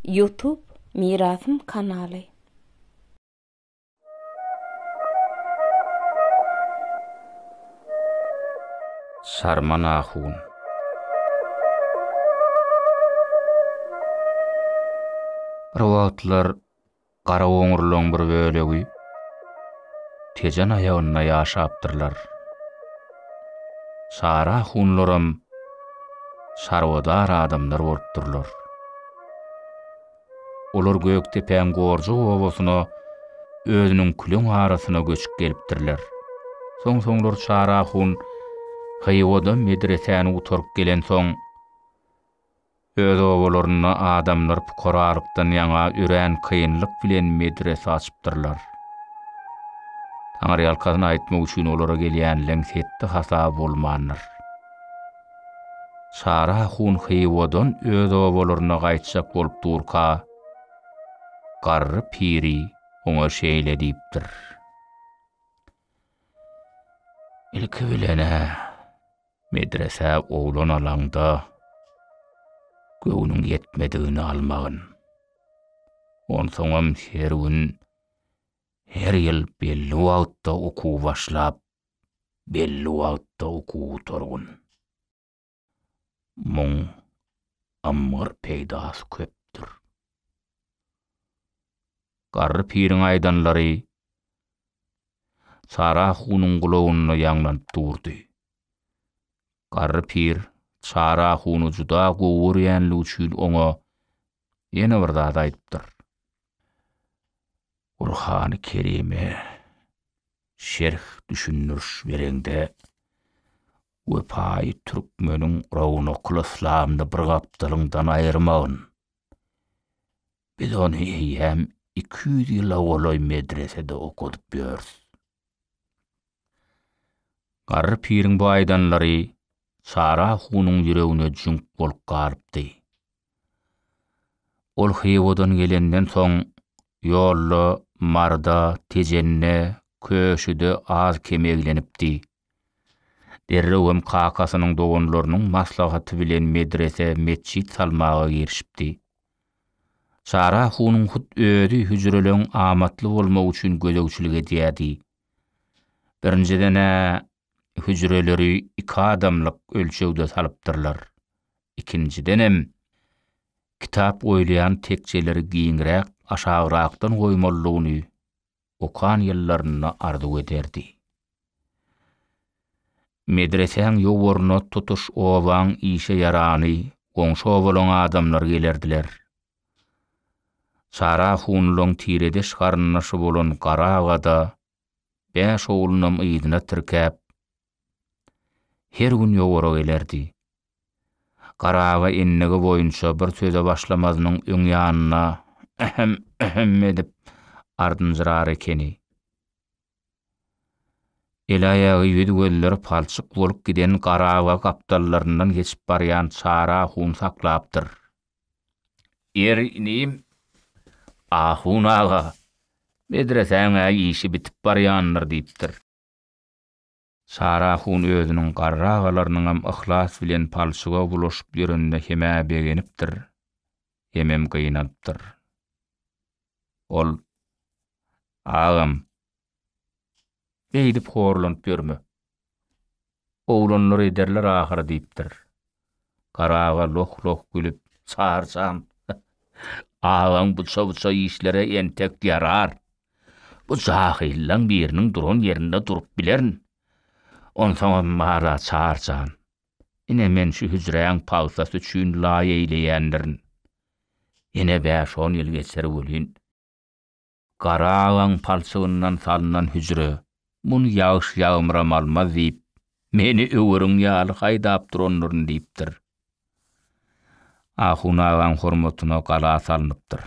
Ýutub Mirasym kanaly. Sarman ahun. Bir wagtlar Garaoňurlaryň bir bölegi Tejen aýagynda ýaşapdyrlar. Çara hunlaram çarwadar adamlar bolupdyrlar. Olar Gökdepäň Gorjak obasyna özüniň küleň arasyna göçüp gelipdirler. Soň-soňlar Çara hun Hywa-da medresäni gutaryp gelensoň, Öz obalarynda adamlar pukaralykdan ýaňa örän kynlyk bilen medrese açypdyrlar. Taňryýalkasyn aýtmak üçin olara gelýänleň hetdi hasaby bolmandyr. Çary ahun Hywadan öz obalaryna gaýtjak bolup durka, garry piri oňa şeýle diýipdir. Ilki bilen-ä, Medresä oglan alaňda göwnüň ýetmedigini almagyn. Onsoňam her gün, her ýyl belli wagtda okuw başlap, belli wagtda okuw gutargyn. Muň ymgyr peýdasy köpdür. Garry piriň aýdanlary Çara hunuň gulagynda ýaňlanyp durdy. Garry pir Çara huny juda gowy görýänligi üçin oňa ýene bir zat aýdypdyr. Gurhany Kerime şerh düşündiriş bereňde, Wepaýy türkmeniň Rownakylyslamyny bir gapdalyňdan aýyrmagyn. Biz ony eýýäm iki ýüz ýyla golaý medresede okadyp ýörüs. Garry piriň bu aýdanlary Çara hunyň ýüregine jüňk bolup galypdy. Ol Hywadan gelenden soň, ýolda, Maryda, Tejende, Köşüde az-kem eglenipdi. Derrew hem kakasynyň doganlarynyň maslahaty bilen medrese, metjit salmaga girişipdi. Çara hunyň hut özi hüjreleň amatly bolmagy üçin gözegçilik edýärdi. Birinjiden-ä hüjreleri iki adamlyk ölçegde salypdyrlar. Ikinjidenem, kitap goýulýan tekjeleri giňräk, aşagrakdan goýmalydygyny okan ýyllarynda arzuw ederdi. Medresäň ýowaryna tutuş obaň işe ýarany, goňşy obalaň adamlary gelerdiler. Çara hunlaň tiredeş garyndaşy bolan Gara aga-da bäş oglunam yzyna tirkäp, Her gün ýowara gelerdi. Garaba endigi boýunça bir söze başlamazynyň öň ýanyna ähem, ähem edip ardynjyrar ekeni. Eli-aýagy ýüz-gözleri palçyk bolup giden Garaba gapdallaryndan geçip barýan Çary ahun saklapdyr. Ýeri, inim, ahun aga, medresäň-ä işi bitip barýandyr diýipdir. Sara hun özüniň garragalarynyňam yhlas bilen palçyga bulaşyp ýörenine hem-ä begenipdir, hemem gynanypdyr. Ol, Agam, beýdip horlanyp ýörme. Oglanlar ederler ahyry diýipdir. Gara aga loh-loh gülüp, Sarsam, agaň bu çawça işleri entek ýarar. Bu jahyllaň biriniň duran ýerinde durup bilerin. Onsoňam bar-a, Çary jan, ine men şu hüjräň pagtasy üçin laý eýleýändirin. Ýene bäş-on ýyl geçer welin, Gara agaň palçygyndan salnan hüjre, muny ýagyş ýagmyram almaz diýip, meni öweriň ýaly haýdap duranlaryn diýipdir. Ahun agaň hormatyna gala salnypdyr.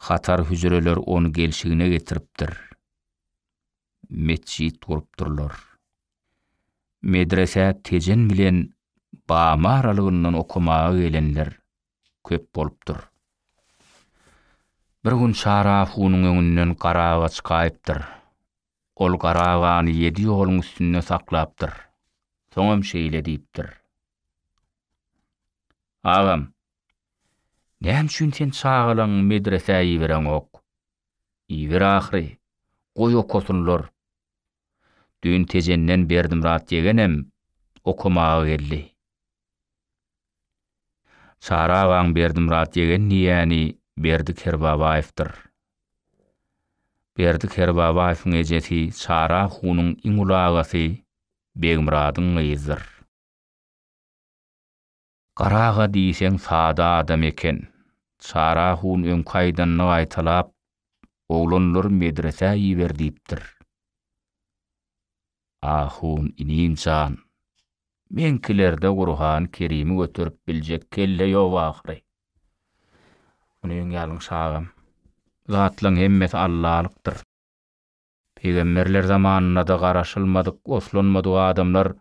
Hatar hüjreler ony gelşigine getiripdir. Metjit gurupdyrlar. Medresä Tejen bilen Bamy aralygyndan okamaga gelenler köp bolupdyr. Bir gün Çara hunyň öňünden garaga çykaýypdyr. Ol garagany ýedi ýoluň üstünde saklapdyr. Soňam şeýle diýipdir. Agam, näme üçin sen çagalaňy medresä ibereňok? Iber ahyry, goý okasynlar. Düýn Tejenden Berdimyrat ýegenem okamaga geldi. Çary agaň Berdimyrat ýegen diýýäni Berdi Kerbabaýewdir. Berdi Kerbabaýewiň ejesi Çary ahunyň iň uly agasy Begmyradyň gyzydyr. Gara aga diýseň sada adam eken. Çary ahun öňki aýdanyny gaýtalap, Oglanlary medresä iber diýipdir. Ahun inim jan, meňkilerde Gurhany Kerimi göterip biljek kelle ýok ahyry. Muny öň ýalňyş agam. Bu zatlaň hemmesi allalykdyr. Pygamberler zamanynada garaşylmadyk, oslanmadyk adamlar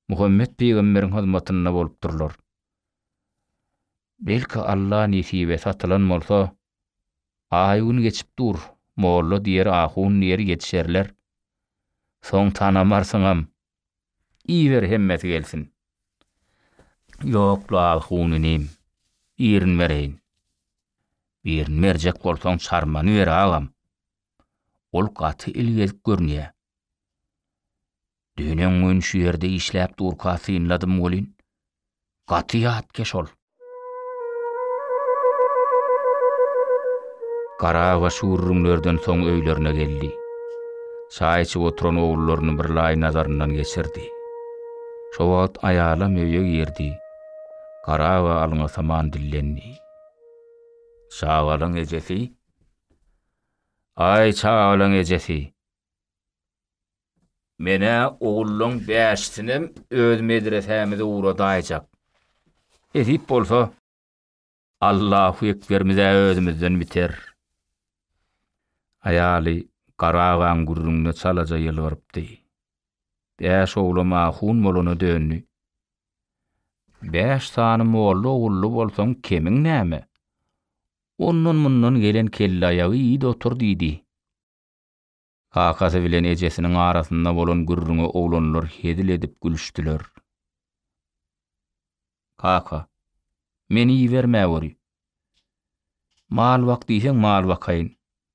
Muhammet pygamberiň hyzmatynda bolupdyrlar. Belki Alla nesibe satylan bolsa, aý gün geçip dur, molla diýer ahun diýer ýetişerler. Soň tanamarsyňam. Iýiber hemmesi gelsin. Ýok-la ahun inim, birini bereýin. Birini berjek bolsaň çarmany ber agam. Ol gaty il gezip görünýä. Düýn öňňin şu ýerde işläp durka synladym welin, gaty ýatkeş ol. Garagaş gürrüňlerden soň öýlerine geldi. Çaý içip oturan ogullaryny birlaý nazaryndan geçirdi. Şo wagt aýalam öýe girdi. Garaga alňasaman dillendi. Çagalaň ejesi? Aý, çagalaň ejesi! Men-ä ogullaň bäşisinem öz medresämize ugradaýjak. Nesip bolsa, Allahu ekberimiz-ä özümizden biter. Aýaly Gara agaň gürrüňine çalaja ýylgyrypdy. Bäş oglam ahun bolana döndi. Bäş sany molla-ogully bolsaň kemiň näme? Ondan-mundan gelen kellaýagy iýd otur diýdi. Kakasy bilen ejesiniň arasynda bolan gürrüňe oglanlar hezil edip gülüşdiler. Kaka, meni iberme göri. Mal bak diýseň mal bakaýyn,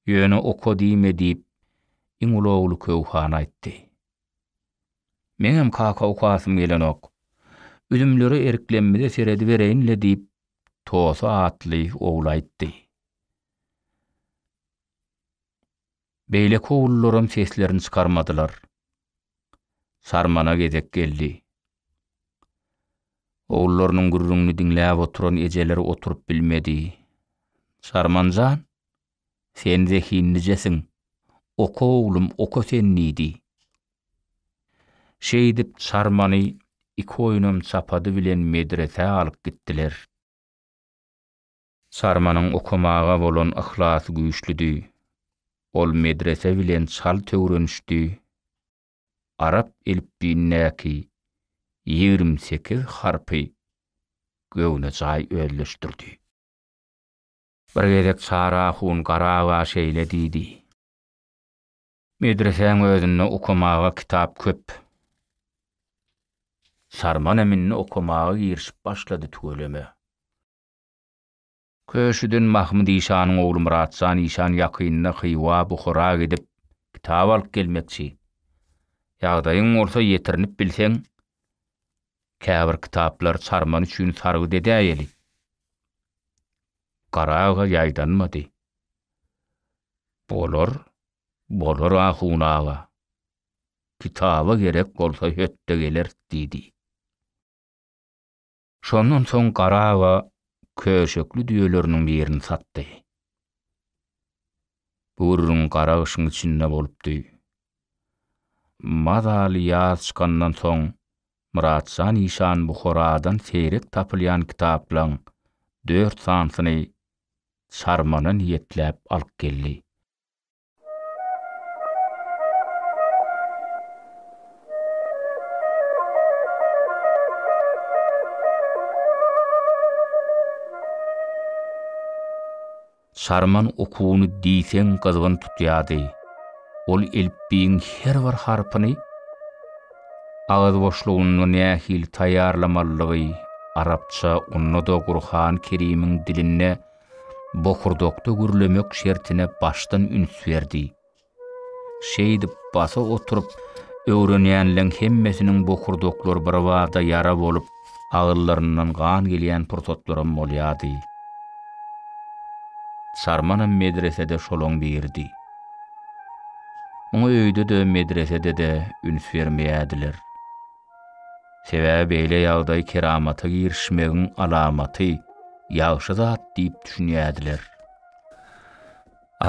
ýöne oka diýme diýip, iň uly ogly Köwhan aýtdy. Meňem kaka okasym gelenok. Üzümlere eriklenmize seredibereýin-le diýip, Tosa atly ogly aýtdy. Beýle kowulylaram seslerini çykarmadylar. Sarmana gezek geldi. Ogullarynyň gürrüňini diňläp oturan ejeleri oturyp bilmedi. Sarman jan, sen zehinlijesiň. Oka oglum, oka sen diýdi. Şeýdip Sarmany iki oýnam çapady bilen medresä alyp gitdiler. Sarmanyň okamaga bolan yhlasy güýçlüdi. Ol medrese bilen çalt öwrenişdi. Arap elipbiýindäki ýigrimi sekiz harpy göwnejaý özleşdirdi. Bir gezek Çary ahun Garaga şeýle diýdi, Medresäň özünde okamaga kitap köp. Sarman hem indi okamaga girişip başlady tüweleme. Köşüden Mahmyt işanyň ogly Myratjan işan ýakynda Hywa, Buhara gidip, kitap alyp gelmekçi. Ýagdaýyň bolsa ýetirinip bilseň, käbir kitaplar Çarman üçin sargyt edäýeli. Gara aga ýaýdanmady. Bolar, bolar ahun aga. Kitaba gerek bolsa hötde geleris diýdi. Şondan soň Gara aga köşekli düýeleriniň birini satdy. Bu gürrüň gara gyşyň içinde bolupdy. Mazaly ýaz çykandan soň Myratjan işan Buharadan seýrek tapylýan kitaplaň dört sanysyny Çarmana niýetläp alyp geldi. Şarman okuny diýseň gyzgyn tutýardy. Ol elipbiýiň her bir harpyny agyz boşlugynda nähili taýýarlamalydygy, arapça, onda-da Gurhan-Kerimiň dilinde bokurdakda gürlemek şertine başdan üns berdi. Şeýdip, basa oturyp, öwrenýänleň hemmesiniň bokurdaklary birbada ýara bolup, agyzlaryndan gan gelýän pursatlaram bolýardy. Çarmanam medresede şolaň biridi. Muňa öýde-de, medresede-de üns bermeýärdiler. Sebäbi beýle ýagdaý keramata girişmegiň alamaty, ýagşy zat diýip düşünýärdiler.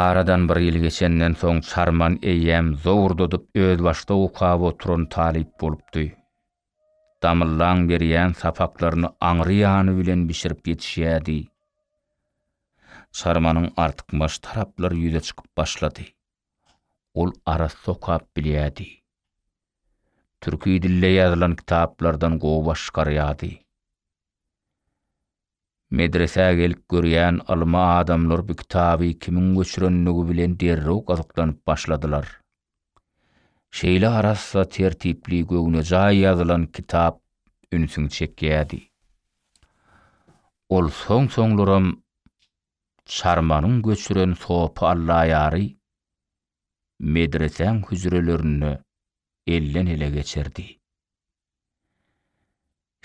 Aradan bir ýyl geçenden soň Çarman eýýäm zowurdadyp özbaşdak okap oturan talyp bolupdy. Damyllaň berýän sapaklaryny aňry ýany bilen bişirip ýetişýärdi. Çarmanyň artykmaç taraplary ýüze çykyp başlady. ol arassa okap bilýärdi. Türki dilde ýazylan kitaplardan gowy baş çykarýardy. Medresä gelip görýän ylmy adamlar bu kitaby kimiň göçürendigi bilen derrew gyzyklanyp başladylar. Şeýle arassa, tertipli, göwnejaý ýazylan kitap ünsüňi çekýärdi. Ol soň-soňlaram Çarmanyň göçüren sopy Allaýary medresäň hüjrelerinde elden-ele geçerdi.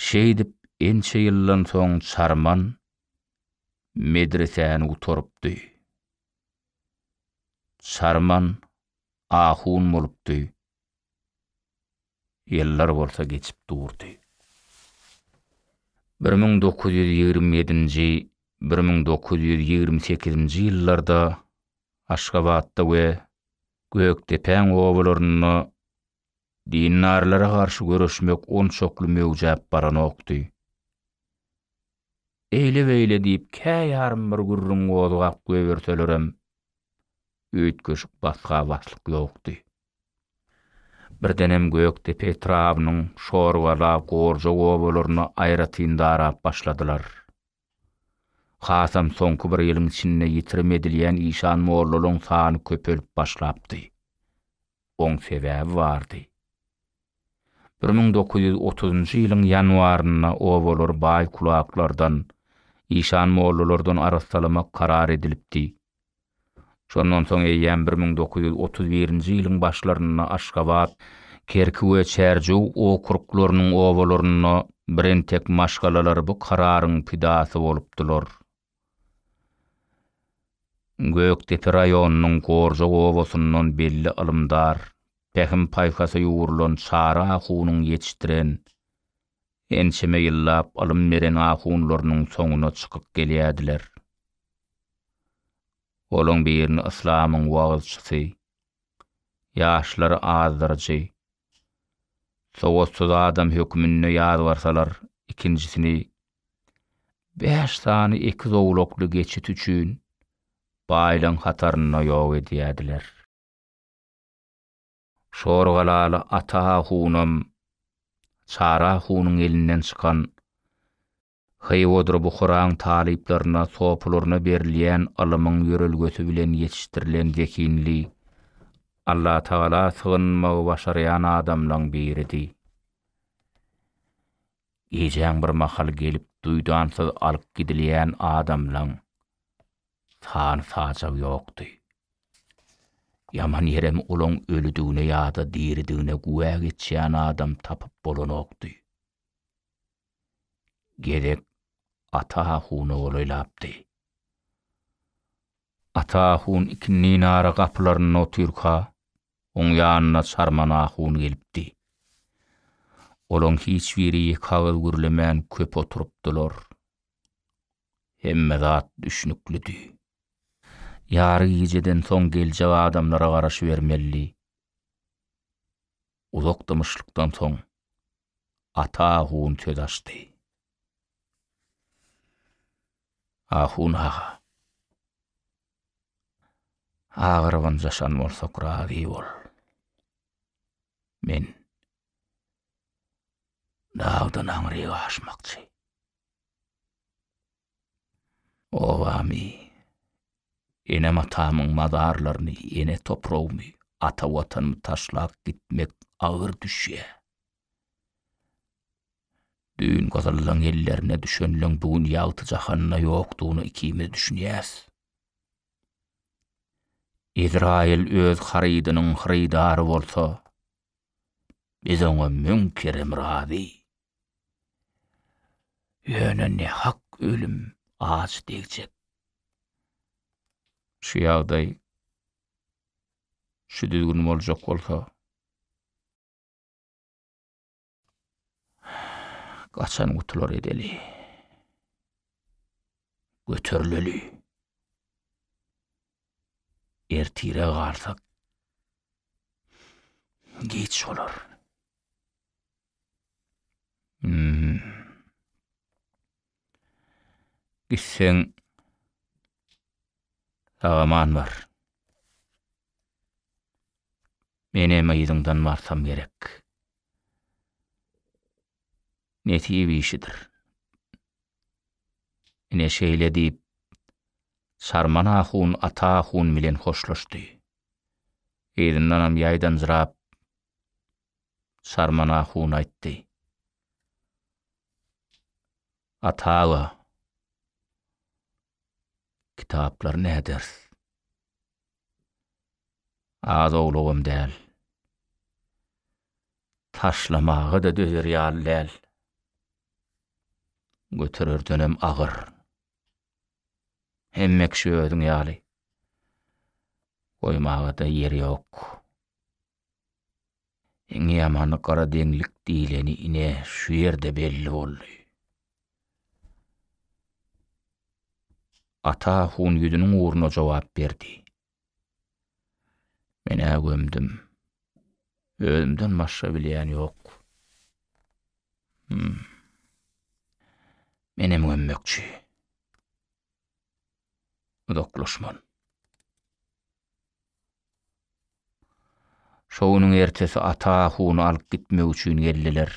Şeýdip ençe ýyldan soň Çarman medresäni gutarypdy. Çarman ahun bolupdy. Ýyllar bolsa geçip durdy. Bir müň dokuz ýüz ýigrimi ýedinji, bir müň dokuz ýüz ýigrimi sekizinji ýyllarda Aşgabatda we Gökdepäň obalarynda dindarlara garşy göreşmek onçakly möwjäp baranokdy. Eýle-beýle diýip käýarym bir gürrüň gozgap goýberselerem, üýtgeşik basga-baslyk ýokdy. Birdenem Gökdepe etrabynyň Şorgala, Gorjak obalaryna aýratyn darap başladylar. Hasam soňky bir ýylyň içinde ýitirim edilýän işan mollalaryň sany köpelip başlapdy. Oň sebäbi bardy. Bir müň dokuz ýüz otuzynjy ýylyň ýanwarynda obalary baý kulaklardan, işan mollalardan arassalamak karar edilipdi. Şondan soň eýýäm bir müň dokuz ýüz otuz birinji ýylyň başlarynda Aşgabat, Kerki we Çärjew okruklarynyň obalarynda birentek maşgalalar bu kararyň pidasy bolupdylar. Gökdepe raýonynyň Gorjak obasyndan belli ylymdar, pähim-paýhasa ýugrulan Çary ahunyň ýetişdiren, ençeme ýyllap ylym beren ahunlarynyň soňuna çykyp gelýärdiler. Olaň birini yslamyň wagyzçysy, ýaşlary azdyryjy, sowatsyz adam hökmünde ýazgarsalar, ikinjisini bäş sany iki zowlakly geçit üçin baýlaň hatarynda ýok edýärdiler. Şorgalaly Ata hunam Çara hunuň elinden çykan Hywodyr Buharaň talyplaryna, sopularyna berilýän ylymyň ýörelgesi bilen ýetişdirilen zehinli, Allatagala sygynmagy başarýan adamlaň biridi. Gijäň bir mahal gelip duýdansyz alyp gidilýän adamlaň San-sajag ýokdy. Ýaman ýerem olaň ölüdigine ýa-da diridigine güwä geçýän adam tapyp bolanokdy. Gezek Ata ahuna golaýlapdy. Ata ahun ikindi nara gapylarynda otyrka, oň ýanyna Çarman ahun gelipdi. Olaň hiç biri ýeke agyz gürlemän köp oturypdylar. Hemme zat düşnüklidi. Ýary gijeden soň geljek adamlara garaşybermelidi. Uzak dymyşlykdan soň Ata ahun söz açdy. Ahun aga. Agyrybyn jaşan bolsak razy bol. Men dagdan aňryk aşmakçy. Obamy, enem-atamyň mazarlaryny, ene topragymy, ata Watanymy taşlap gitmek agyr düşýär. Düýn gyzyllaň ellerine düşenleň bu gün ýagty jahanda ýokdugyna ikimiz düşünýäs. Izraýyl öz harydynyň hyrydary bolsa, Biz oňa müň kerem razy. Ýöne nähak ölüm aç degjek. Şu ýagdaý, şu düzgün boljak bolsa. Gaçan gutular edeli. Göterileli. Ertire galsak geç bolar. Hmm. Gitseň sagaman bar. Menem yzyňdan barsam gerek. Nesip işidir. Ine şeýle diýip, Sarman ahun Ata ahun bilen hoşlaşdy. Yzyndanam ýaýdanjyrap, Sarman ahun aýtdy. Ata aga, kitaplary näderis? Az owlugam däl. Taşlamaga-da dözer ýaly däl. Götererdenem agyr. Hemme kişi özüň ýaly. Goýmaga-da ýer ýok. Iň ýamany gara deňlik diýleni ine şu ýerde belli boldy. Ata Hun ýüzüniň ugruna jogap berdi. Men-ä gömdüm. Özümden başga bilýän ýok. Hum. Menem gömmekçi. uzaklaşman. Şo günüň ertesi ata huny alyp gitmek üçin geldiler.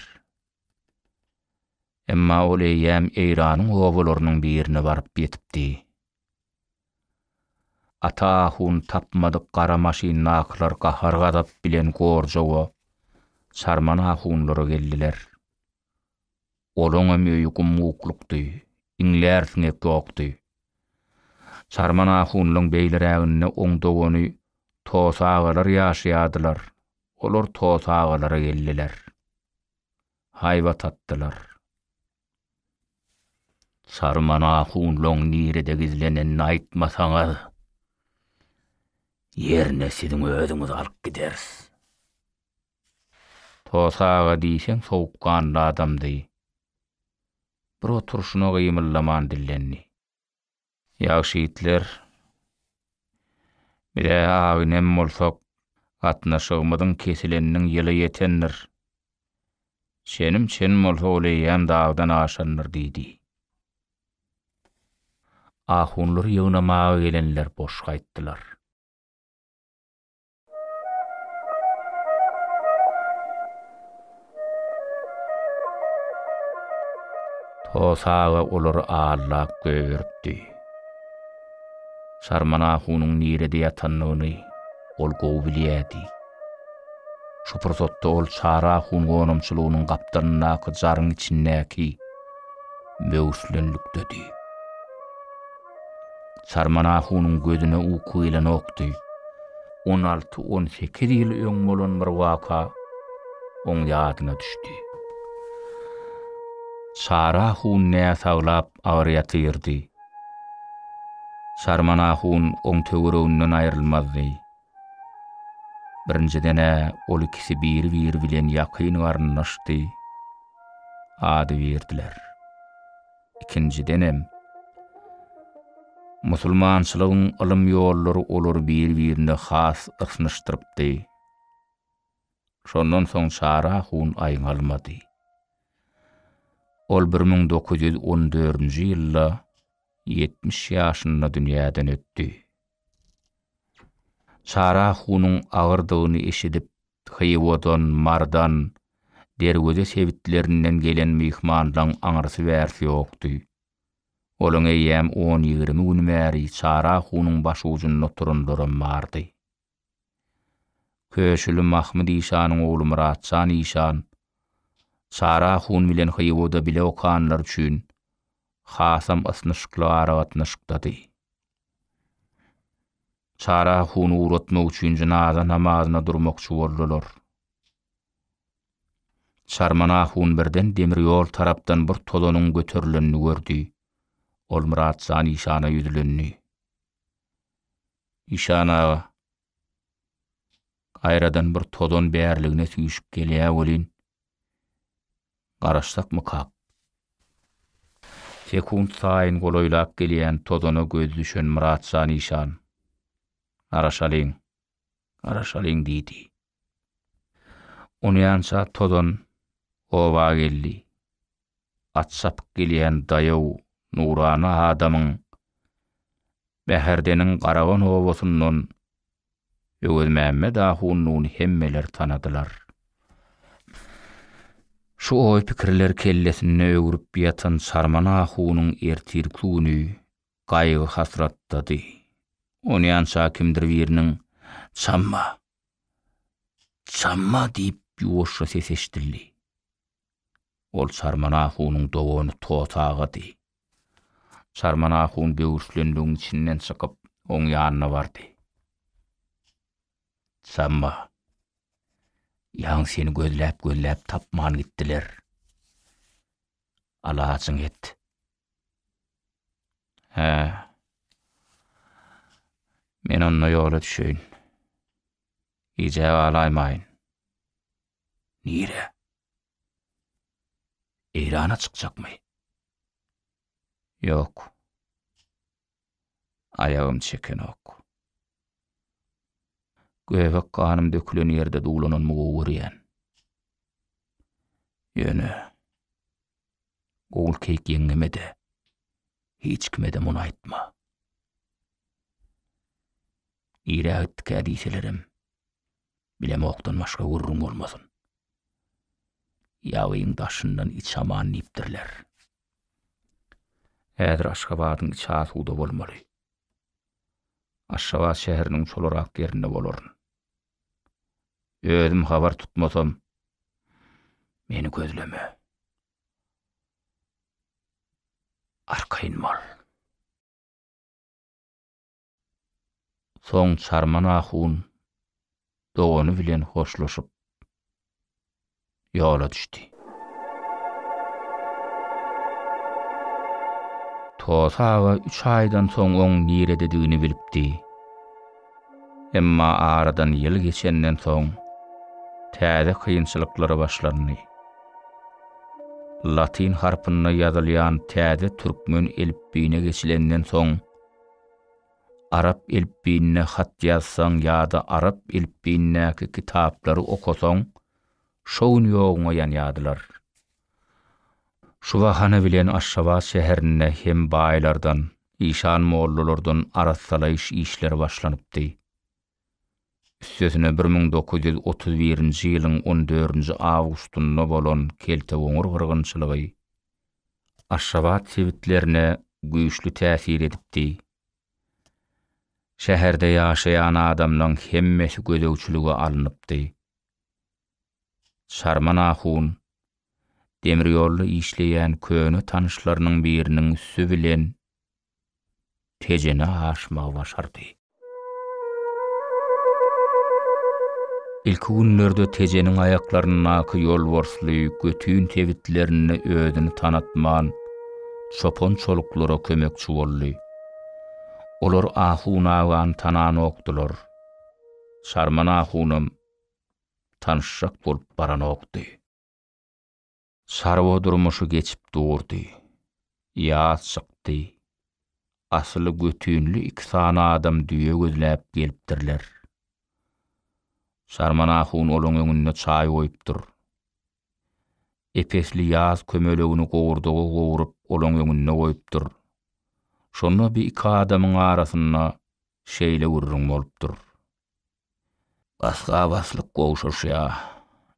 Emma ol eýýäm Eýranyň obalarynyň birine baryp ýetipdi. Ata huny tapmadyk gara maşyndakylar gahar-gazap bilen Gorjowa, Çarmana hunlara geldiler. Olaňam öýi gum-guklukdy, iňlär siňek ýokdy. Sarman ahunlaň beýleräginde oň dogany Tos agalar ýaşaýardylar, olar Tos agalara geldiler. Haýbat atdylar. Sarman ahunlaň nirede gizlenenini aýtmasaňyz, ýerine siziň özüňizi alyp gideris. Tosa aga diýseň sowukganly adamdy. Bir oturyşyna gymyldaman dillendi. Ýagşy ýigitler, biz-ä aginem bolsak, gatnaşygymyzyň kesileniniň ýyly ýetendir. Çenim çen bolsa ol eýýäm dagdan aşandyr, diýdi. Ahunlary ýygnamaga gelenler boş gaýtdylar. Hosa aga olary allap göýberipdi. Sarman ahunyň nirede ýatandygyny ol gowy bilýärdi. Şu pursatda ol Çary ahun gonamçylygynyň gapdalyndaky jaryň içindäki möwslenlikdedi. Sarman ahunyň gözüne uky gelenokdy. On alty-on sekiz ýyl öň bolan bir waka oň ýadyna düşdi. Çary ahun näsaglap agyr ýatyrdy. Sarman ahun oň töwereginden aýrylmazdy. Birinjiden-ä ol ikisi biri-biri bilen ýakyn garyndaşdy. Ady berdiler. Ikinjidenem, musulmançylygyň ylym ýollary olary bir-birine has ysnyşdyrypdy. Şondan soň Çara hun aýňalmady. Ol bir müň dokuz ýüz on dördünji ýylda ýetmiş ýaşynda dünýäden ötdi. Çara hunuň agyrdygyny eşidip, Hywodan, Mardan, Derweze sebitlerinden gelen myhmanlaň aňyrsy-bärsi ýokdy. Olaň eýýäm on-ýigrimi gün bäri Çara hunyň başujunda turanlaram bardy. Köşüli Mahmyt işanyň ogly Myratjan işan, Çara hun bilen Hywoda bile okanlar üçin hasam ysnyşykly aragatnaşykdady. Çara huny ugratmak üçin jynaza namazyna durmakçy boldular. Çarman ahun birden demir ýol tarapdan bir tozanyň göterilenini gördi. Ol Myrat jan işana ýüzlendi. Işan aga, gaýradan bir tozan bärligine süýşüp gelýä welin, Garaşsakmykak? Sekunt saýyn golaýlap gelýän tozana gözi düşen Myratjan işan, Garaşalyň, garaşalyň diýdi. Onýança tozan oba geldi. At çapyp gelýän daýaw nurana adamyň Bäherdeniň Garagon obasyndan Öwezmämmet ahunnuny hemmeler tanadylar. Şu oý-pikirler kellesinde öwrüp ýatan Sarman ahunyň ertirki güni gaýgy-hasratdady. Onýança kimdir biriniň Çamma! Çamma! diýip ýuwaşja sesi eşidildi. Ol Çarman ahunyň dogany Tot agady. Çarman ahun böwürslenligiň içinden çykyp, oň ýanyna bardy. Çarma, ýaň seni gözläp-gözläp tapman gitdiler. Alajyň et. Hä. Men onda ýola düşeýin. Gijä galaýmaýyn. Nirä? Eýrana çykjakmy? Ýok. Aýagym çekenok. Göbek ganym dökülen ýerde duwlananymy gowy görýän. Ýöne Gulkeýik ýeňňeme-de, hiç kime-de muny aýtma. Nirä gitdikä diýselerem, Bilemokdan başga gürrüň bolmasyn. Ýagyň daşyndan iç aman diýipdirler. Häzir Aşgabadyň içi asuda bolmaly. Aşgabat şäheriniň çolarak ýerinde bolaryn. Özüm habar tutmasam, meni gözleme. Arkaýyn bol. Soň Çarman ahun dogany bilen hoşlaşyp, ýola düşdi. Toty aga üç aýdan soň oň nirededigini bilipdi. Emma aradan ýyl geçenden soň, täze kynçylyklar başlandy. Latyn harpynda ýazylýan täze türkmen elipbiýine geçilenden soň, Arap elipbiýinde hat ýazsaň ýa-da arap elipbiýindäki kitaplary okasaň, şo gün ýoguňa ýanýardylar. Şu bahana bilen Aşgabat şäherinde hem baýlardan, işan mollalardan arassalaýyş işleri başlanypdy. Üstesine bir müň dokuz ýüz otuz birinji ýylyň on dördünji awgustynda bolan keltegoňur gyrgynçylygy Aşgabat sebitlerine güýçli täsir edipdi. Şäherde ýaşaýan adamlaň hemmesi gözegçilige alnypdy. Çarman ahun, demirýolda işleýän köne tanyşlarynyň biriniň üsti bilen Tejene aşmagy başardy. Ilki günlerde Tejeniň aýaklaryndaky ýolbarsly götün sebitlerinde özüni tanatman, çopan çoluklara kömekçi boldy. Olar Ahun agany tananokdylar. Çarman ahunam tanyşjak bolup baranokdy. Çarwa durmuşy geçip durdy. Ýaz çykdy. Asyly götünli iki sany adam düýe gözläp gelipdirler. Şarman ahun olaň öňünde çaý goýupdyr. Epesli ýaz kömelegini gowurdaga gowuryp olaň öňünde goýupdyr. Şonda bi iki adamyň arasynda şeýle gürrüň bolupdyr. Bas-gabaslyk gowşaşýa,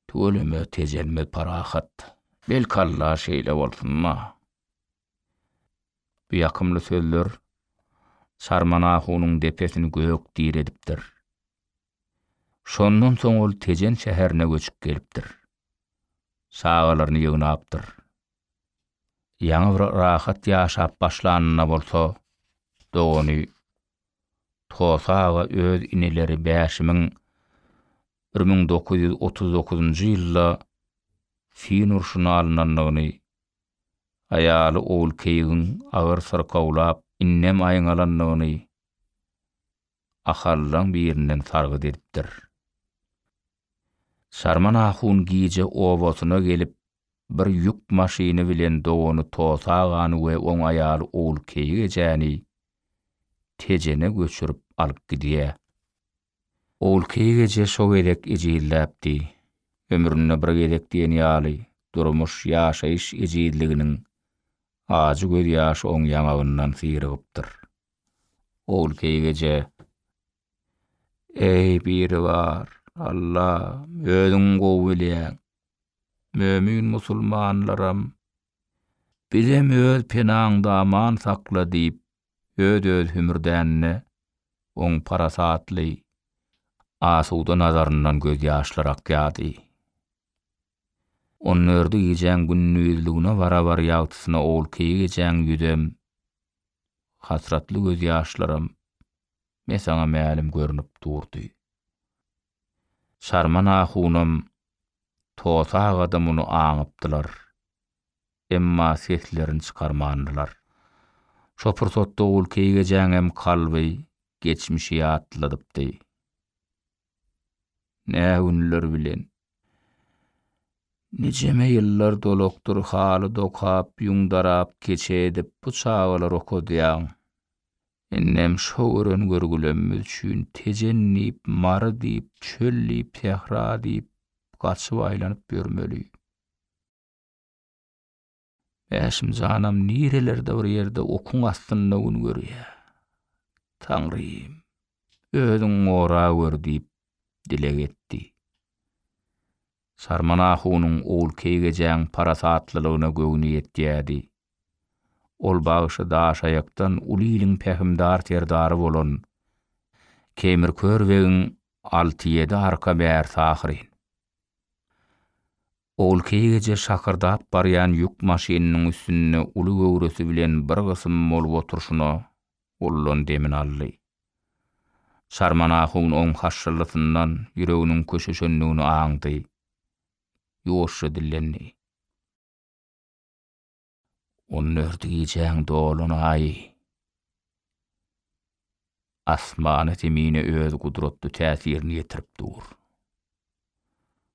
tüweleme, tejelme, parahat. Belki Alla şeýle bolsun-da. Bu ýakymly sözler Sarman ahunyň depesini gök diredipdir. Şondan soň ol Tejen şäherine göçüp gelipdir. Çagalaryny ýygnapdyr. Ýaňy bir rahat ýaşap başlanyna bolsa, dogany. Tosa aga öz ineleri Bäşimiň bir müň dokuz ýüz otuz dokuzynjy ýylda fin urşuna alnandygyny, aýaly Ogulkeýigiň agyr syrkawlap, indem aýňalandygyny Ahallaň birinden sargyt edipdir. Sarman ahun gije obasyna gelip, bir ýük maşyny bilen dogany Tosa agany we oň aýaly Ogulkeýik ejäni Tejene göçürip alyp gidýär. Ogulkeýik eje şo gezek ejizläpdi. Ömründe bir gezek diýen ýaly durmuş, ýaşaýyş ejizliginiň ajy gözýaşy oň ýaňagyndan syrygypdyr. Ogulkeýik eje Eý, Biribar Alla, Özüň gowy bilýäň. Mömin musulmanlaram, Bizem Öz penaňda aman sakla diýip, öz-öz hümürdänine, oň parasatly, asuda nazaryndan gözýaşlar akýardy. On dördi gijäň gündizligine barabar ýagtysyna olky gijäň ýüzem, hasratly gözýaşlaram Mesaňa mälim görnüp durdy. Çarman ahunam, Tosa aga-da muny aňypdylar. Emma seslerini çykarmandylar. Şo pursatda olky gijäňem kalby, geçmişi ýatladypdy. Nä günler bilen. Nijeme ýyllar dolukdyr haly dokap, ýüň darap, keçe edip bu çagalary okadýaň. Indem şo gören görgülemimiz üçin Tejen diýip, Mary diýip, çöl diýip, sähra diýip, gaçyp-aýlanyp ýörmeli. Mäşim janam nirelerde bir ýerde okuň astynda gün görýä. Taňrym, özüň gora gör diýip dileg etdi. Sarman ahunyň Ogulkeýgejäň parasatlylygyna göwni ýetýädi. Ol bagşy Daşaýakdan uly iliň pähimdar serdary bolan Keýmirkör begiň alty-ýedi arka bärsi ahyryn. Ol keýgeje şakyrdap barýan ýük maşynynyň üstünde uly göwresi bilen bir gysym bolup oturyşyna ullan demini aldy. Çarman ahun oň haşşyllysyndan ýüreginiň köşeşendigini aňdy. Ýuwaşja dillendi. On dört gijäň dolanaýy. Asmana-zemine öz gudratly täsirini ýetirip dur.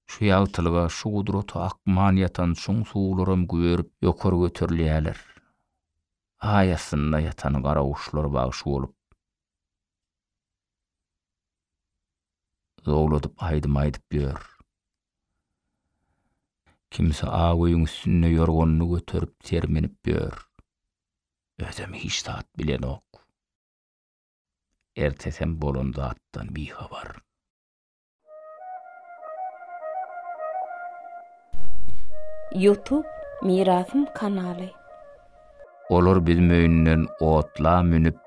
Şu ýagtylyga, şu gudrata akman ýatan çuň suwlaram güberip, ýokary göterilýärler. Aý astynda ýatan garaguşlar bagşy bolup. Zowladyp aýdym aýdyp ýör. Kimsi ak öýüň üstünde ýorganyny göterip sermenip ýör. Özem hiç zat bilenok. Ertesem bolan zatdan bihabar. Youtube Mirasym kanaly. Olar biz möýünden otla münüp,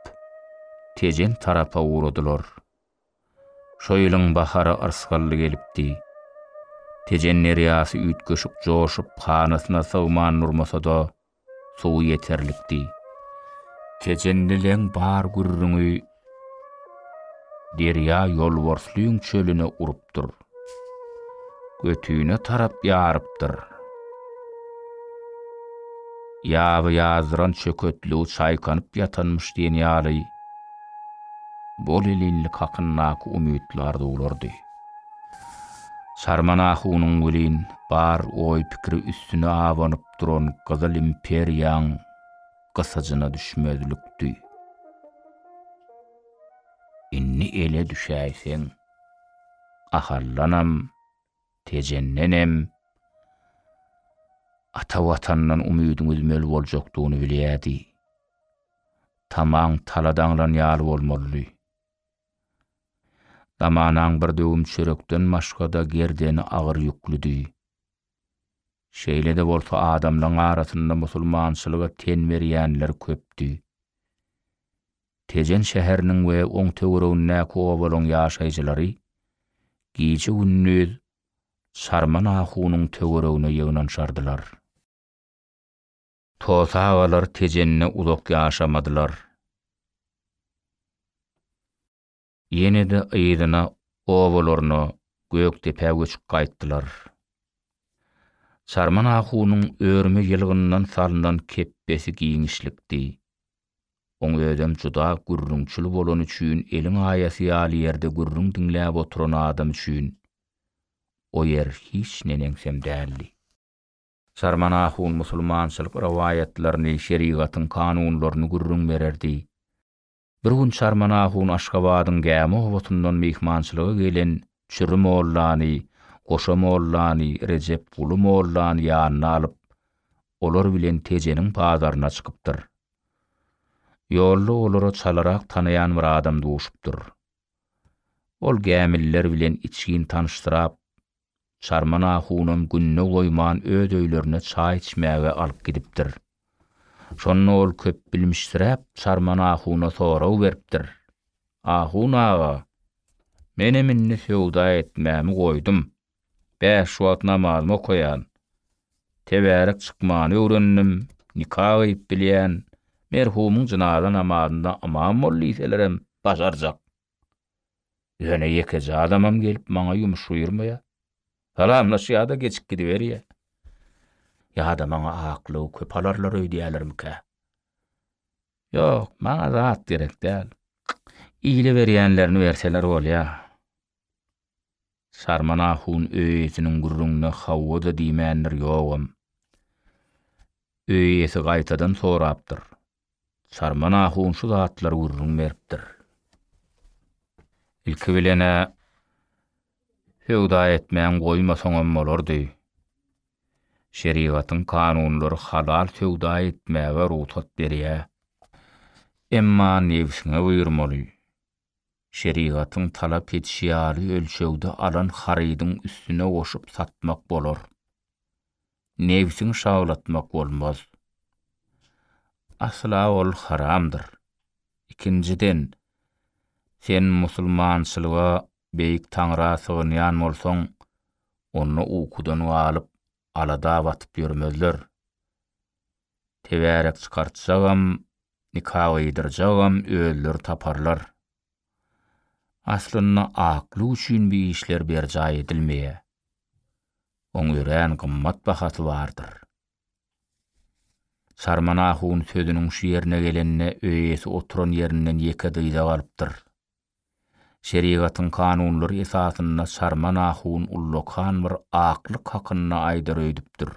Tejen tarapa ugradylar. Şo ýylyň bahary yrsgally gelipdi. Tejen derýasy üýtgeşik joşup, hanasyna sygman durmasa-da, suwy ýeterlikdi. Tejenlileň bar gürrüňi Derýa ýolborslýň çölüne urupdyr. Götüne tarap ýarypdyr. Ýaby ýazdyran çöketligi çaýkanyp ýatanmyş diýen ýaly bolelinlik hakyndaky umytly arzuwlardy. Çarman ahunyň welin bar oý-pikiri üstüne abanyp duran Gyzyl imperiýaň gysajyna düşmezlikdi. Indi ele düşäýseň, Ahaldanam, Tejendenem ata Watandan umydyňy üzmeli boljakdygyny bilýärdi. Tamaň tala daňlan ýaly bolmalydy. Damanaň bir döwüm çörekden başga-da gerdeni agyr ýüklidy. Şeýle-de bolsa adamlaryň arasynda musulmançylyga ten berýänler köpdi. Tejen şäheriniň we oň töweregindäki obalaryň ýaşaýjylary gije-gündiz Çarman ahunyň töweregine ýygnanşardylar. Tos agalar Tejende uzak ýaşamadylar. Ýene-de yzyna obalaryna Gökdepä göçüp gaýtdylar. Çarman ahunyň örme ýylgyndan salnan kepbesi giňişlikdi. Oň özem juda gürrüňçil bolany üçin eliň aýasy ýaly ýerde gürrüň diňläp oturan adam üçin o ýer hiç neneňsem däldi. Çarman ahun musulmançylyk rowaýatlaryny, şerigatyň kanunlaryny gürrüň bererdi. Bir gün Çarman ahun Aşgabadyň Gämi obasyndan myhmançylyga gelen Çüri mollany, Goşa mollany, Rejep guly mollany ýanyna alyp, olar bilen Tejeniň bazaryna çykypdyr. Ýolda olara çalarak tanaýan bir adam duşupdyr. Ol gämililer bilen içgin tanyşdyrap, Çarman ahunam günde goýman öz öýlerine çaý içmäge alyp gidipdir. Şonda ol köpbilmişsiräp Çarman ahuna sorag beripdir, Ahun aga, menem indi söwda etmämi goýdum, bäş wagt namazymy okaýan, tebärek çykmany öwrendim, nika gyýyp bilýän, merhumyň jynaza namazynda ymam bol diýselerem başarjak. Ýöne ýekeje adamam gelip maňa ýumuş buýurmaýar. Salamlaşýar-da geçip gidiberýär. Ýa-da maňa aklug köp alarlar öýdýärlermikä? Ýok, maňa zat gerek däl. Ile berýänlerini berseler bolýar. Sarman ahun öý eýesiniň gürrüňine hawa-da diýmändir, ýogam. Öý eýesi gaýtadan sorapdyr, Sarman ahun şu zatlary gürrüň beripdir. Ilki bilen-ä söwda etmän goýmasaňam bolardy. Şerigatyň kanunlary halal söwda etmäge rugsat berýär. Emma nebsiňe buýurmaly. Şerigatyň talap edişi ýaly ölçegde alan harydyň üstüne goşup satmak bolar. nebsiňi şawlatmak bolmaz. Asla ol haramdyr. Ikinjiden, sen musulmançylyga, Beýik Taňra sygynýan bolsaň, onda ukudan galyp, alada batyp ýörmezler. Tebärek çykartjagam, nika gydyrjagam özleri taparlar. Aslynda aklyk üçin bu işler berjaý edilmeýär. Oň örän gymmat bahasy bardyr. Çarman ahun sözüniň şu ýerine gelende öýesi oturan ýerinden ýeke dyza galypdyr. Şerigatyň kanunlary esasynda Çarman ahun ullakan bir aklyk hakynda aýdar öýdüpdir.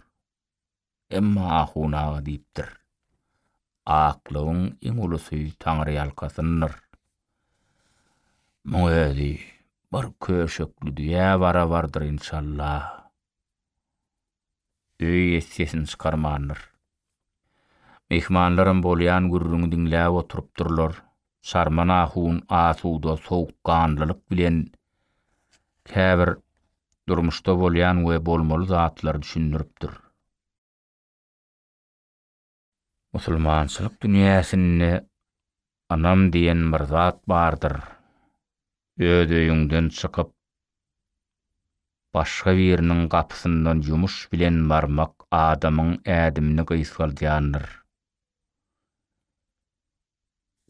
Emma Ahun aga diýipdir, Aklygyň iň ulusy taňryýalkasyndyr. Muň özi bir köşekli düýä barabardyr inşallah. Öý ýet sesini çykarmandyr. Myhmanlaram bolýan gürrüňi diňläp oturypdyrlar, Şarman ahun asuda sowukganlylyk bilen käbir durmuşda bolýan we bolmaly zatlary düşündiripdir. Musulmançylyk dünýäsinde ynam diýen bir zat bardyr. Öz öýüňden çykyp, başga biriniň gapysyndan ýumuş bilen barmak adamyň ädimini gysgaldýandyr.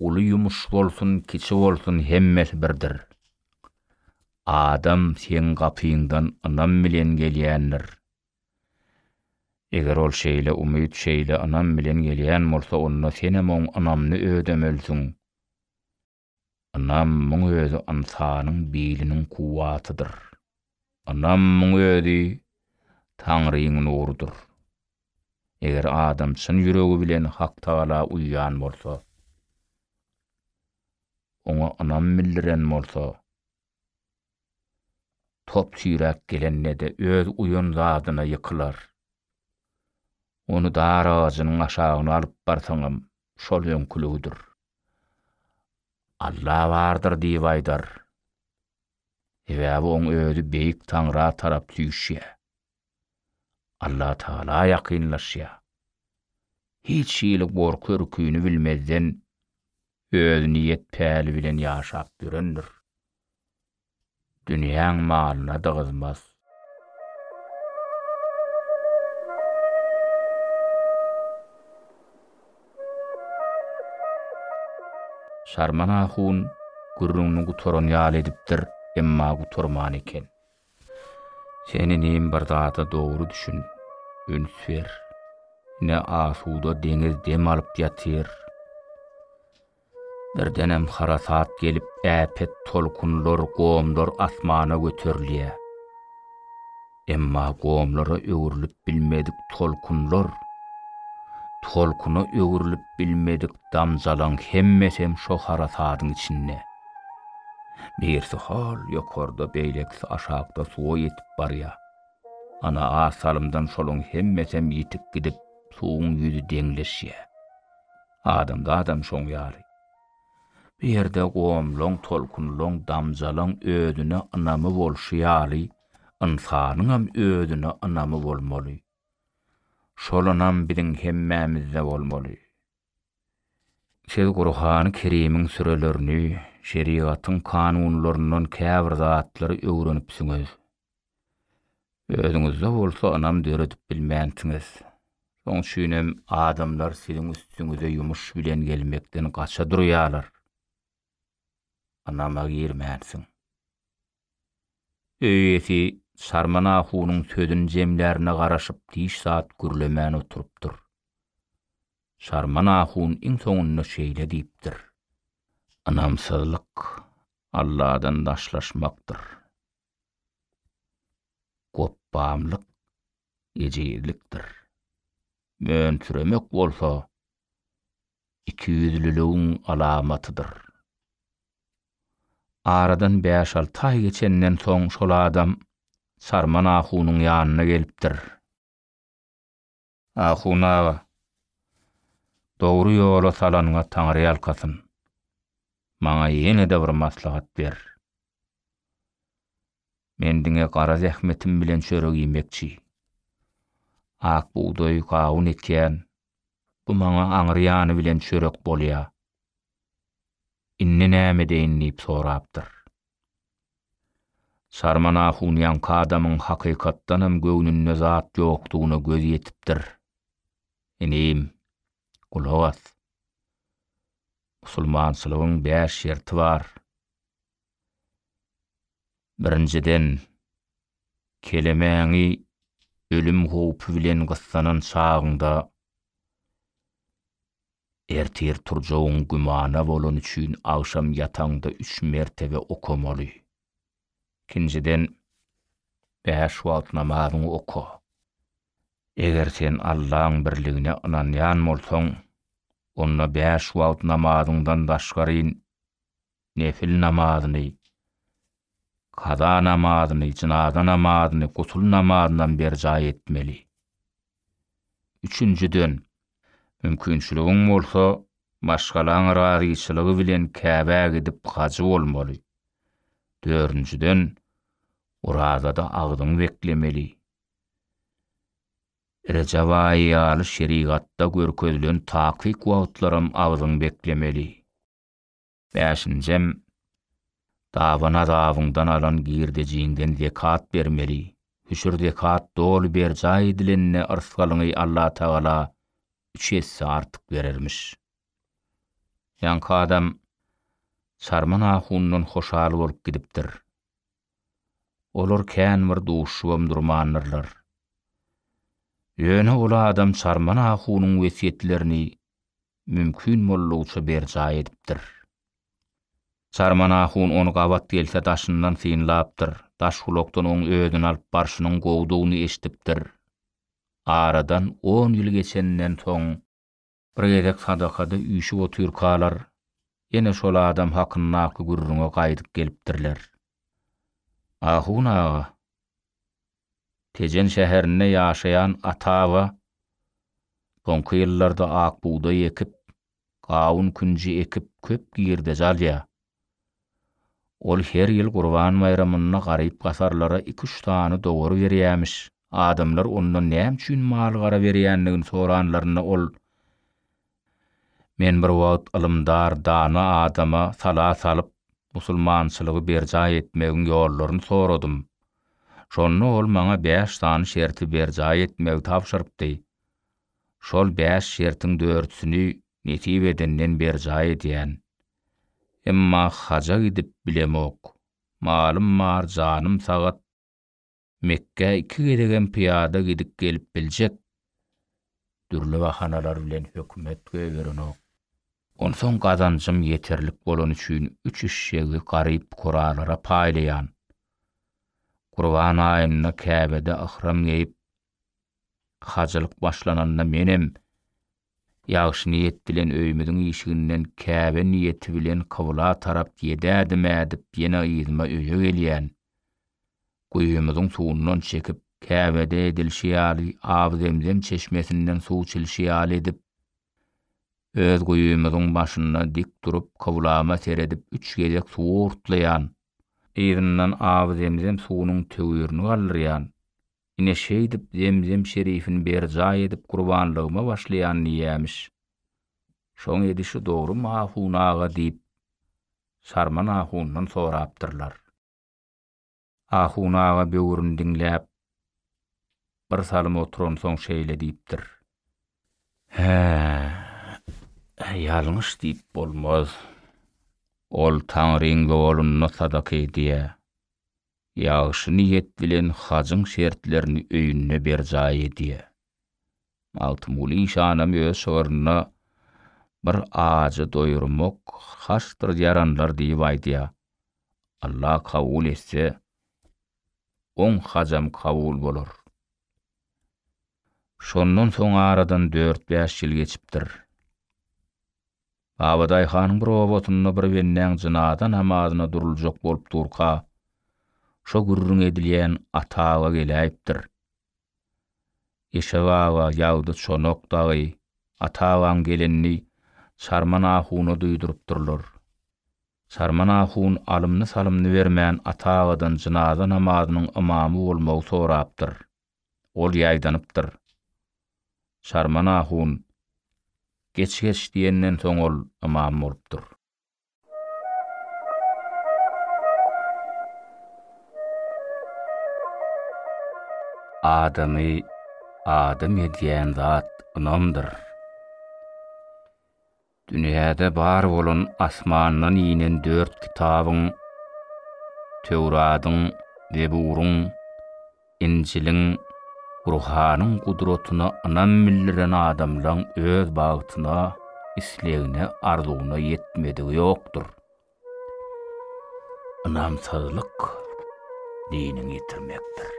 Uly ýumuş bolsun, kiçi bolsun hemmesi birdir. Adam seň gapyňdan ynam bilen gelýändir. Eger ol şeýle umyt, şeýle ynam bilen gelýän bolsa, onda senem oň ynamyny ödemelisiň. Ynam, muň özi ynsanyň biliniň kuwwatydyr. Ynamyň özi Taňryň nurudyr. Eger adam çyn ýüregi bilen Haktagala uýýan bolsa, Oňa ynam bildiren bolsa, top-süýräk gelende-de öz uýan zadyna ýykylar. Ony dar agajynyň aşagyna alyp barsaňam, şol öňküligidir. Alla bardyr diýip aýdar. Sebäbi oň özi Beýik Taňra tarap süýşýär. Allatagala ýakynlaşýar. Hiç hili gorky-ürkini bilmezden, öz niýet-päli bilen ýaşap ýörendir. Dünýäň malyna dygyzmaz. Şarman ahun gürrüňini gutaran ýaly edipdir, emma gutarman eken. Sen inim bir zada dogry düşün, üns ber. Ine asuda deňiz dem alyp ýatyr. Birdenem harasat gelip, äpet tolkunlar, gomlar asmana göterilýär. Emma gomlara öwrülip bilmedik tolkunlar, tolkuna öwrülip bilmedik damjalaň hemmesem şo harasadyň içinde. Birsi hol ýokarda, beýlekisi aşakda suwa ýetip barýar. Ana, az salymdan şolaň hemmesem ýitip gidip, suwuň ýüzi deňleşýär. Adamzadam şoň ýaly. Bu ýerde gomlaň, tolkunlaň, damjalaň özüne ynamy bolşy ýaly, ynsanyňam özüne ynamy bolmaly. Şol ynam biziň hemmämizde bolmaly. Siz Gurhany Kerimiň sürelerini, şerigatyň kanunlaryndan käbir zatlary öwrenipsiňiz. Özüňizde bolsa ynam döredip bilmänsiňiz. Şoň üçinem adamlar siziň üstüňize ýumuş bilen gelmekden gaça durýarlar. Ynama girmänsiň. Öý eýesi Çarman ahunyň sözüni jemlärine garaşyp hiç zat gürlemän oturypdyr. Çarman ahun iň soňunda şeýle diýipdir. Ynamsyzlyk, Alladan daşlaşmakdyr. gopbamlyk, ejizlikdir. Mönsüremek bolsa, ikiýüzlüligiň alamatydyr. Aradan bäş-alty aý geçenden soň şol adam Sarman ahunyň ýanyna gelipdir. Ahun aga. Dogry ýola salanyňa taňryýalkasyn. Maňa ýene-de bir maslahat ber. Men diňe gara zähmetim bilen çörek iýmekçi. Ak bugdaý, gawun ekýän. Bu maňa aňry ýany bilen çörek bolýa. Indi näme edeýin diýip sorapdyr. Sarman ahun ýaňky adamyň hakykatdanam göwnünde zat ýokdugyna gözi ýetipdir. Inim, gulak as. Musulmançylygyň bäş şerti bar. Birinjiden, kelemäňi ölüm howpy bilen gyssanan çagyňda Ertir turjagyň gümana bolany üçin agşam ýataňda üç mertebe okamaly. Ikinjiden, bäş wagt namazyňy oka. Eger sen Allaň birligine ynanýan bolsaň, onda bäş wagt namazyňdan daşgaryn Nefil namazyny, kaza namazyny, jynaza namazyny, gusul namazynam berjaý etmeli. Üçünjiden, mümkinçiligiň bolsa, maşgalaň razyçylygy bilen Käbä gidip hajy bolmaly. Dördünjiden, orazada agzyňy beklemeli. Rejep aýy ýaly şerigatda görkezilen takyk wagtlaram agzyňy beklemeli. Bäşinjem, dabynazabyňdan alan girdejiňden zekat bermeli, hüşür zekat doly berjaý edilende yrsgalyňy Allatagala üç esse artyk berermiş. Ýaňky adam Çarman ahundan hoşal bolup gidipdir. Olar kän bir duşubam durmandyrlar. Ýöne ol adam Çarman ahunyň wesýetlerini mümkin boldugyça berjaý edipdir. Çarman ahun ony gabat gelse daşyndan synlapdyr, Daşgulakdan oň özüni alyp barşynyň gowudygyny eşidipdir. Aradan on ýyl geçenden soň. Bir gezek sadakada üýşüp otyrkalar, ýene şol adam hakyndaky gürrüňe gaýdyp gelipdirler. Ahun aga, Tejen şäherinde ýaşaýan Ata-aba soňky ýyllarda ak bugdaý ekip, gawun-künji ekip köp girdeji alýar. Ol her ýyl Gurban baýramynda garyp-gasarlara iki-üç sany dowar berýämiş. Adamlar ondan näme üçin mal-gara berýändigini soranlarynda ol, Men bir wagt ylymdar, dana adama sala salyp, musulmançylygy berjaý etmegiň ýollaryny soradym. Şonda ol maňa bäş sany şerti berjaý etmegi tabşyrypdy. Şol bäş şertiň dördüsini nesip edenden berjaý edýän. Emma haja gidip bilemok. Malym bar, janym sagat. Mekgä iki gezegem pyýada gidip gelip biljek. Dürli bahanalar bilen hökümet goýberenok. Onsoň gazanjym ýeterlik bolany üçin üç eşşegi garyp-fukaralara paýlaýan. Gurban aýynda Käbede yhram geýip, Hajylyk başlananda menem ýagşy niýet bilen öýümiziň işiginden Käbe niýeti bilen kybla tarap ýedädim-ä diýip ýene yzyma öýe gelýän. Guýymyzyň suwundan çekip, Käbede edilşi ýaly Aw Zemzem çeşmesinden suw çilşi ýaly edip, öz guýymyzyň başynda dik durup kyblama seredip üç gezek suwy urtlaýan. Yzyndan Aw Zemzem suwunyň töwirini galdyrýan. Ine şeýdip Zemzem şerifini berjaý edip gurbanlygyma başlaýan diýýämiş. Şoň edişi dogrumy ahun aga diýip, Sarman ahundan sorapdyrlar. Ahun aga böwrüni diňläp, bir salym oturansoň şeýle diýipdir. Hä, ýalňyş diýip bolmaz. Ol Taňryň ýolunda sadaka edýär. Ýagşy niýet bilen hajyň şertlerini öýünde berjaý edýär. Magtymguly işanam öz şygrynda Bir ajy doýurmak haçdyr ýaranlar diýip aýdýar. Alla kabul etse, oň hajam kabul bolar. Şondan soň aradan dört-bäş ýyl geçipdir. Babadaýhanyň bir obasynda bir bendäň jynaza namazyna duruljak bolup durka, şo gürrüň edilýän Ata aga geläýipdir. Eşew aga, Ýagdy, Çonak dagy Ata agaň gelenini Çarman ahuna duýdurypdyrlar. Çarman ahun alymny-salymny bermän Ata agadan jynaza namazynyň ymamy bolmagy sorapdyr. Ol ýaýdanypdyr. Şarman ahun Geç-geç diýenden soň ol ymam bolupdyr. Adamy adam edýän zat ynamdyr. Dünýäde bar bolan asmandan inen dört kitabyň, Töwradyň, Zeburyň, Injiliň, Gurhanyň gudratyna ynam bildiren adamlaň öz bagtyna, islegine, arzuwyna ýetmedigi ýokdur. Ynamsyzlyk diniňi ýitirmekdir.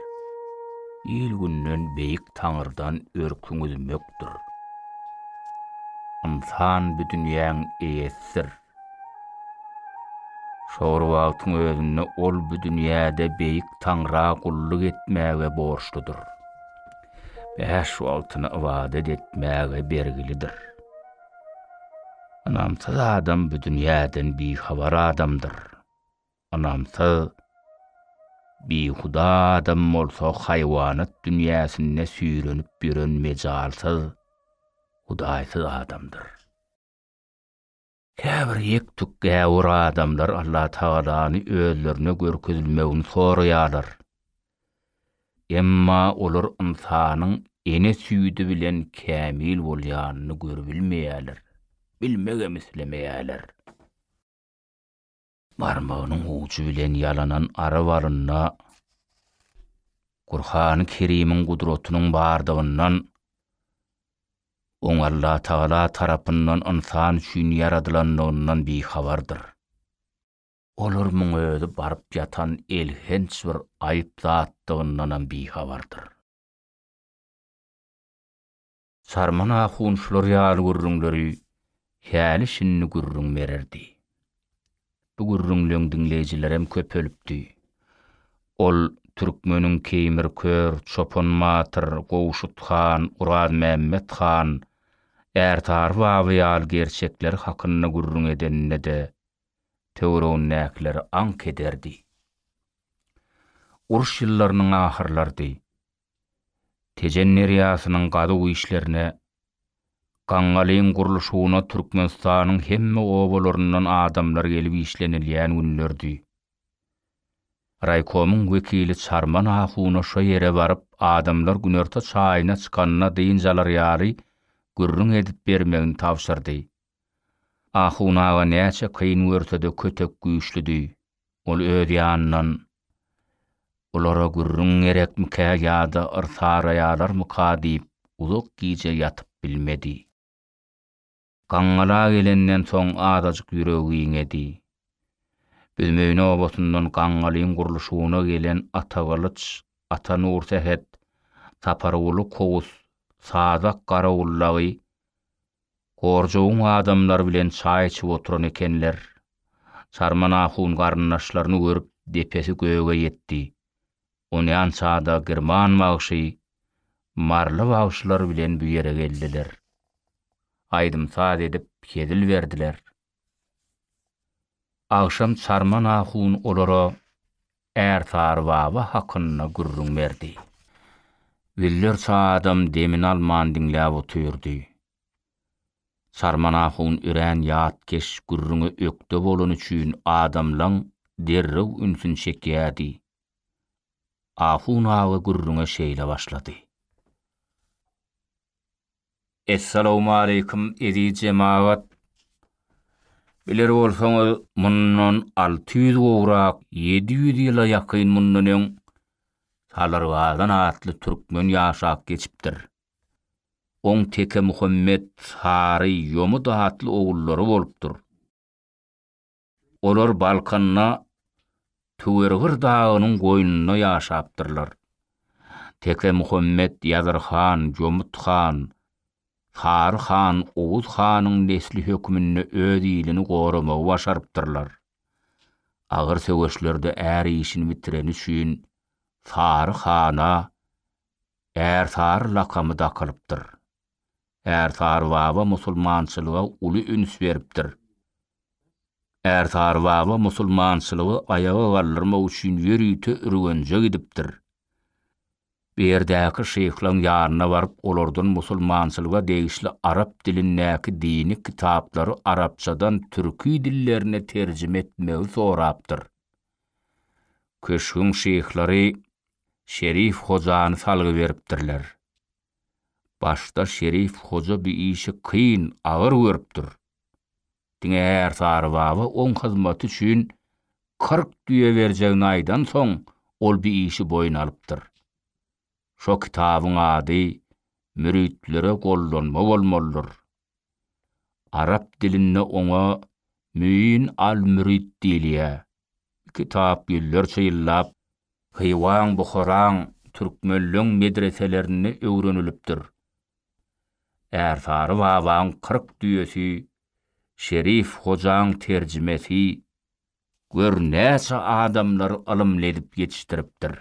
Il-günden Beýik Taňrydan örküňi üzmekdir. Ynsan bu dünýäň eýesidir. Şo bir wagtyň özünde ol bu dünýäde Beýik Taňra gulluk etmäge borçludyr. Bäş wagtyna ybadat etmäge bergilidir. Ynamsyz adam bu dünýäden bihabar adamdyr. Ynamsyz, bihuda adam bolsa haýwanat dünýäsinde süýrenip ýören mejalsyz, hudaýsyz adamdyr. Käbir ýek-tük gäwür adamlar Allatagalany özlerine görkezilmegini soraýarlar. Emma olar ynsanyň ene süýdi bilen kämil bolýanyny görübilmeýärler, bilmegem islemeýärler. Barmagynyň ujy bilen ýalanan ara balynda Gurhany Kerimiň gudratynyň bardygyndan, oň Allatagala tarapyndan ynsan üçin ýaradylandygyndan bihabardyr. Olar muň özi baryp ýatan elhenç bir aýyp zatdygyndanam bihabardyr. Sarman ahun şular ýaly gürrüňleri häli-şindi gürrüň bererdi. Bu gürrüňleň diňleýjilerem köpelipdi. Ol türkmeniň Keýmir kör, Çopan batyr, Gowşut han, Urazmämmet han, Ärsary baba ýaly gerçekleri hakynda gürrüň edende-de töweregindäkileri aňk ederdi. Uruş ýyllarynyň ahyrlarydy. Tejen derýasynyň gazuw işlerine, gaňgalyň gurluşygyna Türkmenistanyň hemme obalaryndan adamlar gelip işlenilýän günlerdi. Raýkomyň wekili Çarman ahuna şo ýere baryp adamlar günorta çaýyna çykanda dynç alar ýaly gürrüň edip bermegini tabşyrdy. Ahun aga näçe kyn görse-de kötek güýçlüdi. Ol öz ýanyndan, Bulara gürrüň gerekmikä ýa-da yrsaraýarlarmyka diýip, uzak gije ýatyp bilmedi. Gaňňala gelenden soň azajyk ýüregi giňedi. Büzmeýine obasyndan Gaňňalyň gurluşygyna gelen Atagylyç, Atanursähet, Saparguly Kowus, Sazak Garawullagy Gorjugyň adamlary bilen çaý içip oturan ekenler. Çarman ahun garyndaşlaryny görüp depesi göge ýetdi. Onýança-da Girman bagşy, Maryly bagşylar bilen bu ýere geldiler. Aýdym-saz edip hezil berdiler. Agşam Çarman ahun olara Ärsary baba hakynda gürrüň berdi. Güller çadam demini alman diňläp otyrdy. Sarman ahun örän ýatkeş gürrüňe ökde bolany üçin adamlaň derrew ünsüni çekýärdi. Ahun aga gürrüňe şeýle başlady. Essalawmaleýkim eziz jemagat! Biler bolsaňyz, mundan alty ýüz gowrak, ýedi ýüz ýyla ýakyn mundan öň Salyrgazan atly türkmen ýaşap geçipdir. Oň Tekemuhammet, Sary, Ýomut atly ogullary bolupdyr. Olar Balkanda Töwergir dagynyň goýnunda ýaşapdyrlar. Teke Muhammet Ýazyr han, Jomut han, Sary han, Oguz hanyň nesli hökmünde öz ilini goramagy başarypdyrlar. Agyr söweşlerde är işini bitireni üçin Sary hana Ärsary lakamy dakylypdyr. Ärsary baba musulmançylyga uly üns beripdir. Ärsary baba musulmançylygy aýaga galdyrmak üçin ýörite Ürgenje gidipdir. Bu ýerdäki şyhlaň ýanyna baryp olardan musulmançylyga degişli arap dilindäki dini kitaplary arapçadan türki dillerine terjime etmegi sorapdyr. Köşgüň şyhlary Şerif hojany salgy beripdirler. Başda Şerif hoja bu işi kyn, agyr görüpdir. Diňe Ärsary baba oň hyzmaty üçin kyrk düýe berjegini aýdansoň, ol bu işi boýun alypdyr. Şo kitabyň ady Müritlere gollanma bolmalydyr Arap dilinde oňa Müin al-Mürid diýilýär. Kitap ýüzlerçe ýyllap Hywaň, Buharaň, Türkmenleň medreselerinde öwrenilipdir. Ärsary babaň kyrk düýesi, Şerif hojaň terjimesi, gör näçe adamlary ylymly edip ýetişdiripdir.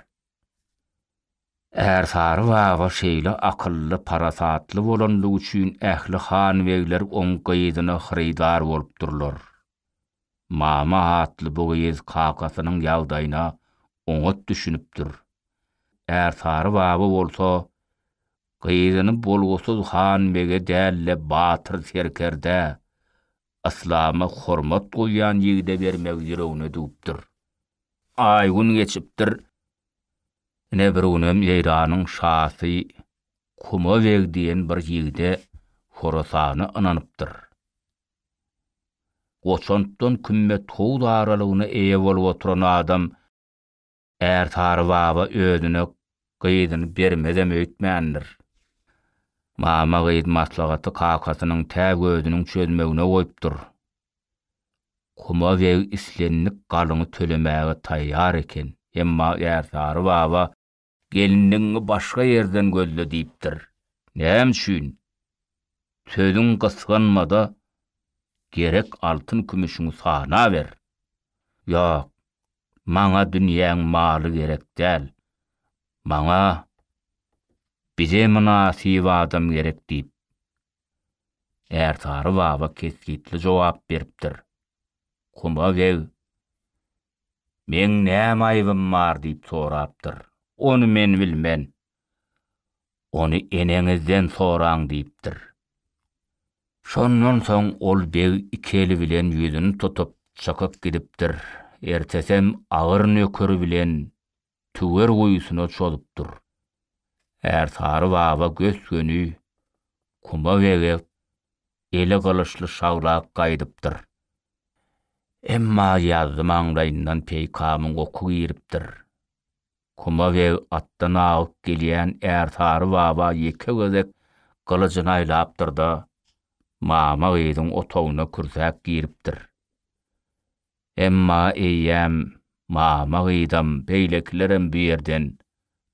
Ärsary baba şeýle akylly, parasatly bolandygy üçin ähli han-begler oň gyzyna hyrydar bolupdyrlar. Mama atly bu gyz kakasynyň ýagdaýyna oňat düşünipdir. Ärsary baba bolsa gyzyny bolgusyz han-bege däl-de batyr serkerdä, yslama hormat goýýan ýigide bermegi ýüregine düwüpdir. Aý-gün geçipdir. Ine bir günem Eýranyň şasy Kuma beg diýen bir ýigide Horasana ynanypdyr. Goçantdan kümmet howz aralygyna eýe bolup oturan adam Ärsary baba özüne gyzyny bermezem öýtmändir. Mama gyz maslahaty kakasynyň tä gözüniň çözmegine goýupdyr. Kuma beg islendik galyňy tölemäge taýýar eken, emma Ärsary baba, Gelinligiňi başga ýerden gözle diýipdir. Näme üçin? Sözüň gysganma-da, gerek altyn-kümüşiňi sanaber. Ýok, maňa dünýäň maly gerek däl. Maňa bize mynasyp adam gerek diýip, Ärsary baba kesgitli jogap beripdir. Kuma geg, Meň näme aýybym bar diýip sorapdyr. Ony men bilmen. Ony eneňizden soraň diýipdir. Şondan soň ol beg iki eli bilen ýüzüni tutup, çykyp gidipdir. Ertesem agyr nökeri bilen tüwer guýusyna çozupdyr. Ärsary baba gös-göni kuma begip, eli gylyçly şaglap gaýdypdyr. Emma ýazzy maňlaýyndan peýkamyň oky giripdir. Kuma beg atdan agyp gelýän Ärsary baba ýeke gezek gylyjyny aýlapdyr-da, mama gyzyň otagyna kürsäp giripdir. Emma eýýäm mama gyzam, beýlekilerem bu ýerden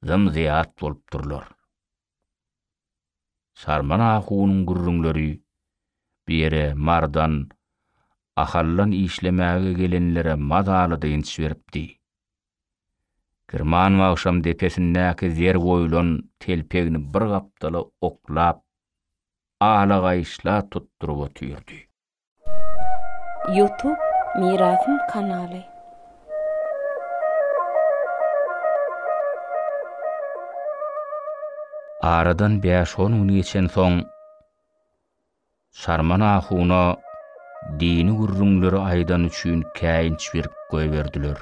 zym-zyýat bolup durlar. Sarman ahunyň gürrüňleri bu ýere Mardan Ahaldan işlemäge gelenlere mazaly dynç beripdi. Girman wagşam depesindäki zer goýlan telpegini bir gapdala oklap, ala gaýyşla tutduryp otyrdy. Youtube Mirasym kanaly. Aradan bäş-on gün geçensoň, Sarman ahuna dini gürrüňleri aýdany üçin käýinç berip goýberdiler.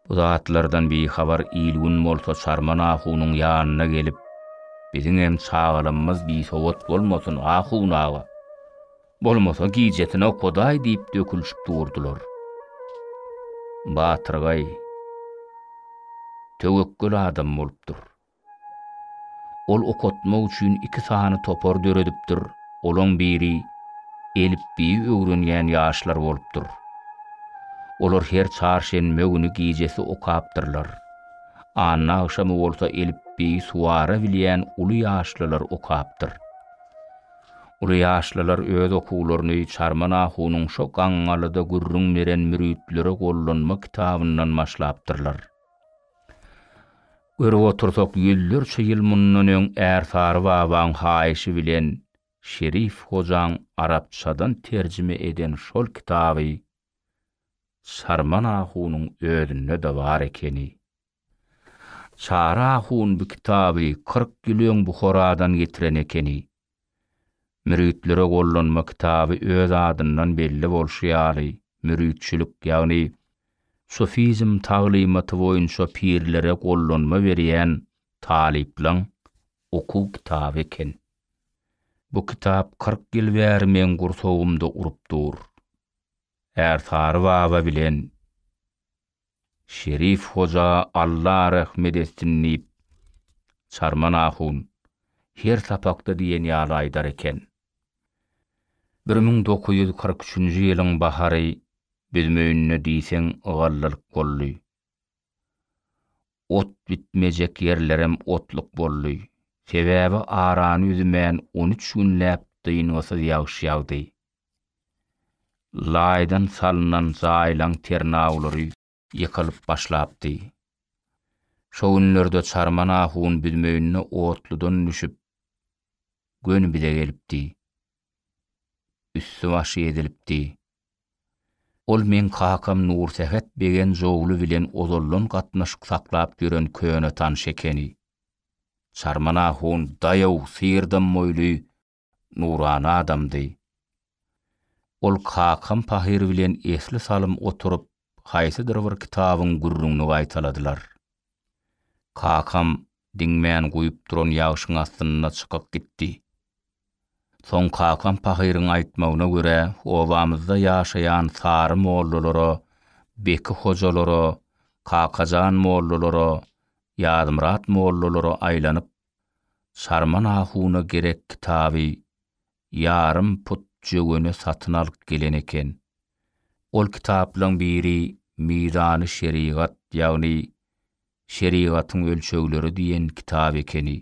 Bu zatlardan bihabar il-gün bolsa Çarman ahunyň ýanyna gelip, Biziňem çagalamyz bisowat bolmasyn, ahun aga! Bolmasa gijesini okaday diýip dökülişip durdular. Batyrgaý töwekgel adam bolupdyr. Ol okatmak üçin iki sany topar döredipdir, olaň biri elipbiýi öwrenýän ýaşlar bolupdyr. Olar her çarşenbe güni gijesi okapdyrlar. Anna agşamy bolsa elipbiýi suwara bilýän uly ýaşlylar okapdyr. Uly ýaşlylar öz okuwlaryny Çarman ahunyň şo gaňňalyda gürrüň beren Müritlere gollanma kitabyndan başlapdyrlar. Görüp otursak, ýüzlerçe ýyl mundan öň Ärsary babaň haýyşy bilen Şerif hojaň arapçadan terjime eden şol kitaby Çarman ahunyň özünde-de bar ekeni. Çary ahun bu kitaby kyrk ýyl öň Buharadan getiren ekeni. Müritlere gollanma kitaby öz adyndan belli bolşy ýaly, müritçilik, ýagny sufizm taglymaty boýunça pirlere gollanma berýän talyplaň okuw kitaby eken. Bu kitap kyrk ýyl bäri meň gursagymda urup dur. Ärsary baba bilen Şerif hoja Alla rehmet etsin diýip, Çarman ahun her sapakda diýen ýaly aýdar eken. Bir müň dokuz ýüz kyrk üçünji ýylyň bahary büzmeýinde diýseň ýygallylyk boldy. Ot bitmejek ýerlerem otluk boldy. Sebäbi arany üzmän on üç günläp dyngysyz ýagyş ýagdy. Laýdan salnan zaýlaň ternawlary ýykylyp başlapdy. Şo günlerde Çarman ahun büzmeýinde otludan düşüp, göni bize gelipdi. Üsti-başy ezilipdi. Ol meň kakam Nursähet Begenjogly bilen ozaldan gatnaşyk saklap ýören köne tanyş ekeni. Çarman ahun daýaw syrdam moýly nurana adamdy. Ol kakam pahyr bilen esli salym oturyp haýsydyr bir kitabyň gürrüňini gaýtaladylar. Kakam diňmän guýup duran ýagşyň astynda çykyp gitdi. Soň kakam pahyryň aýtmagyna görä obamyzda ýaşaýan Sary mollalara, Beki hojalara, Kakajan mollalara, Ýazmyrat mollalara aýlanyp Sarman ahuna gerek kitaby ýarym put jöwene satyn alyp gelen eken. Ol kitaplaryň biri Mizany şerigat, ýagny Şerigatyň ölçegleri diýen kitap ekeni.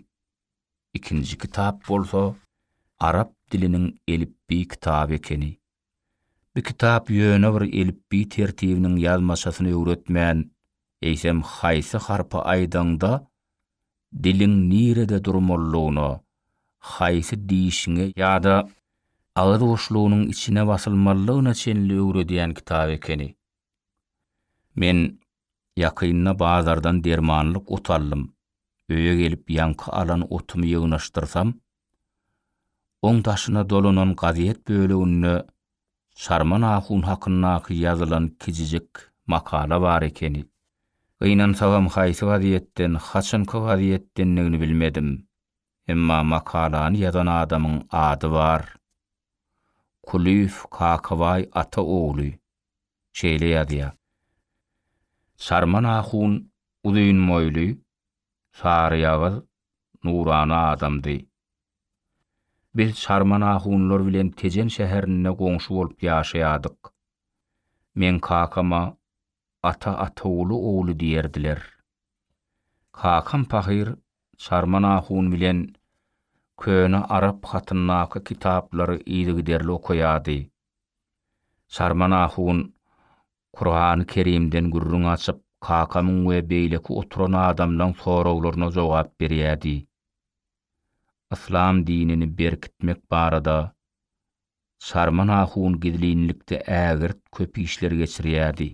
Ikinji kitap bolsa arap diliniň elipbiý kitaby ekeni. Bu kitap ýöne bir elipbiý tertibiniň ýazmaçasyny öwretmän, eýsem haýsy harpy aýdaňda diliň nirede durmalydygyna, haýsy dişiňe ýa-da agyz boşlugynyň içine basylmalydygyna çenli öwredýän kitap ekeni. Men Ýakynda bazardan dermanlyk ot aldym. Öýe gelip ýaňky alan otumy ýygnaşdyrsam, oň daşyna dolanan gazet böleginde Çarman ahun hakyndaky ýazylan kijijik makala bar ekeni. Gynansagam haýsy gazetden, haçanky gazetdendigini bilmedim. Emma makalany ýazan adamyň ady bar. Kulyýew Kakabaý ata ogly. şeýle ýazýar. Sarman ahun uzyn boýly, saryýagyz, nurana adamdy. Biz Sarman ahunlar bilen Tejen şäherinde goňşy bolup ýaşaýardyk. Meň kakama Ata Ataguly ogly diýerdiler. Kakam pahyr Sarman ahun bilen Köne arap hatyndaky kitaplary yzygiderli okaýardy. Sarman ahun Kurany Kerimden gürrüň açyp, kakamyň we beýleki oturan adamlaň soraglaryna jogap berýädi. Yslam dinini berkitmek barada Sarman ahun gizlinlikde ägirt köp işler geçirýädi.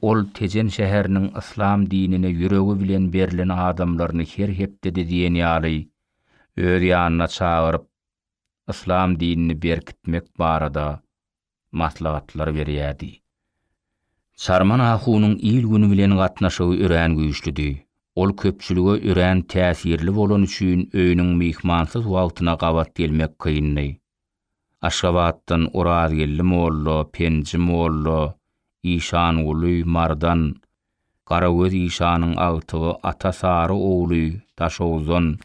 Ol Tejen şäheriniň yslam dinine ýüregi bilen berlen adamlaryny her hepdede diýen ýaly öz ýanyna çagyryp, yslam dinini berkitmek barada maslahatlar berýärdi. Çarman ahunyň il-güni bilen gatnaşygy örän güýçlüdi. Ol köpçülige örän täsirli bolany üçin öýüniň myhmansyz wagtyna gabat gelmek kyndy. Aşgabatdan Orazgeldi molla, Penji molla, Işanguly, Mardan, Garagöz işanyň agtygy Ata Sary ogly Daşoguzdan,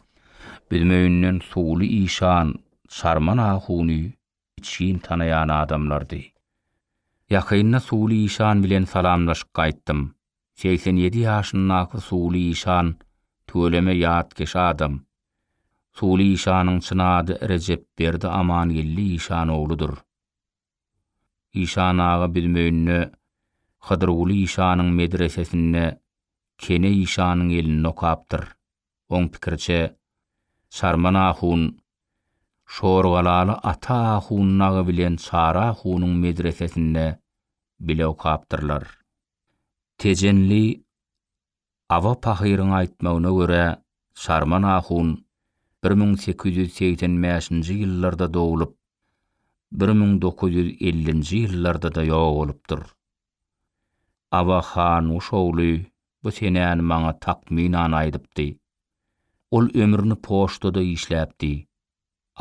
Büzmeýinden Suwly işan, Sarman ahuny içgin tanaýan adamlardy. Ýakynda Suwly işan bilen salamlaşyp gaýtdym. Segsen ýedi ýaşyndaky Suwly işan tüweleme ýatkeş adam. Suwly işanyň çyn ady Rejepberdi Amangeldi işan ogludyr. Işan aga biz Möýünde Hydyrguly işanyň medresesinde Kene işanyň elinde okapdyr. Oň pikiriçe, Çarman ahun Şorgalaly Ata ahun Nagy bilen Çary ahunyň medresesinde bile okapdyrlar. Tejenli Aba pahyryň aýtmagyna görä, Sarman ahun bir müň sekiz ýüz segsen bäşinji ýyllarda doglup, bir müň dokuz ýüz ellinji ýyllarda-da ýok bolupdyr. Aba Hanguş ogly bu senäni maňa takmynan aýdypdy. Ol ömrüni poçtada işläpdi.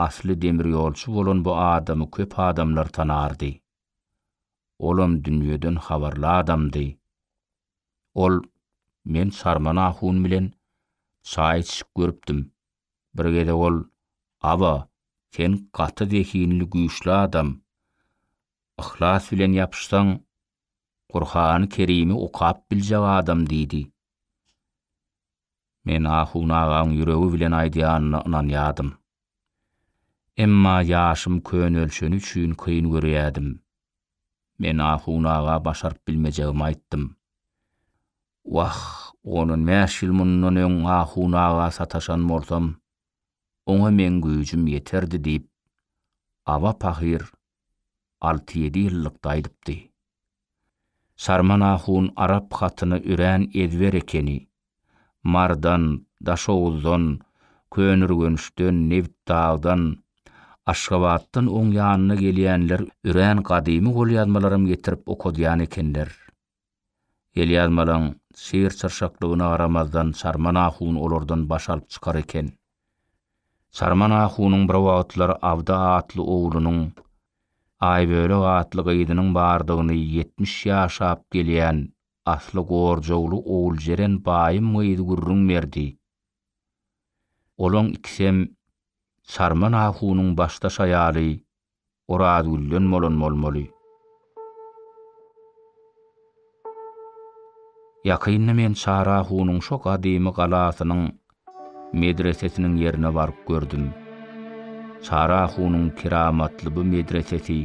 Asly demirýolçy bolan bu adamy köp adamlar tanardy. Olam dünýeden habarly adamdy. Ol, Men Sarman ahun bilen çaý içişip görüpdim. Bir gezek ol, Aba, sen gaty zehinli güýçli adam. Yhlas bilen ýapyşsaň, Gurhany Kerimi okap biljek adam diýdi. Men Ahun agaň ýüregi bilen aýdýanyna ynanýadym. Emma ýaşym könelşeni üçin kyn görýädim. Men Ahun aga başaryp bilmejegimi aýtdym. Wah, on on bäş ýyl mundan öň Ahun aga sataşan bolsam, oňa meň güýjüm ýeterdi diýip, Aba pahyr alty-ýedi ýyllyk daýdypdy. Sarman ahun arap hatyny örän ezber ekeni. Marydan, Daşoguzdan, Könürgençden, Nebitdagdan, Aşgabatdan oň ýanyna gelýänler örän gadymy golýazmalaram getirip okadýan ekenler. Elýazmalaň syr-çyrşaklygyna garamazdan Çarman ahun olardan baş alyp çykar eken. Çarman ahunyň bir wagtlar Abdy atly oglunyň, Aýbölek atly gyzynyň bardygyny ýetmiş ýaşap gelýän asly Gorjowly Oguljeren baýym gyzy gürrüň berdi. Olaň ikisem Çarman ahunyň başdaş aýaly Orazgülden bolan bolmaly. Ýakynda men Çarahunyň şo gadymy galasynyň medresesiniň ýerine baryp gördüm. Çarahunyň keramatly bu medresesi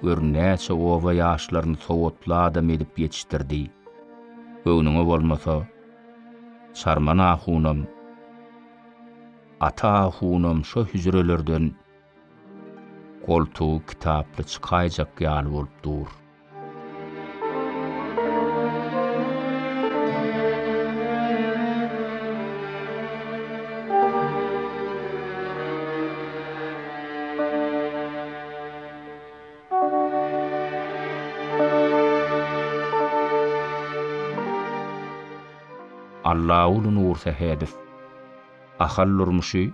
gör näçe oba ýaşlaryny sowatly adam edip ýetişdirdi. Göwnüňe bolmasa, Çarman ahunam, Ata ahunam şo hüjrelerden Goltugy kitaply çykaýjak ýaly bolup dur. Allaguly Nursähedow, Ahal durmuşy,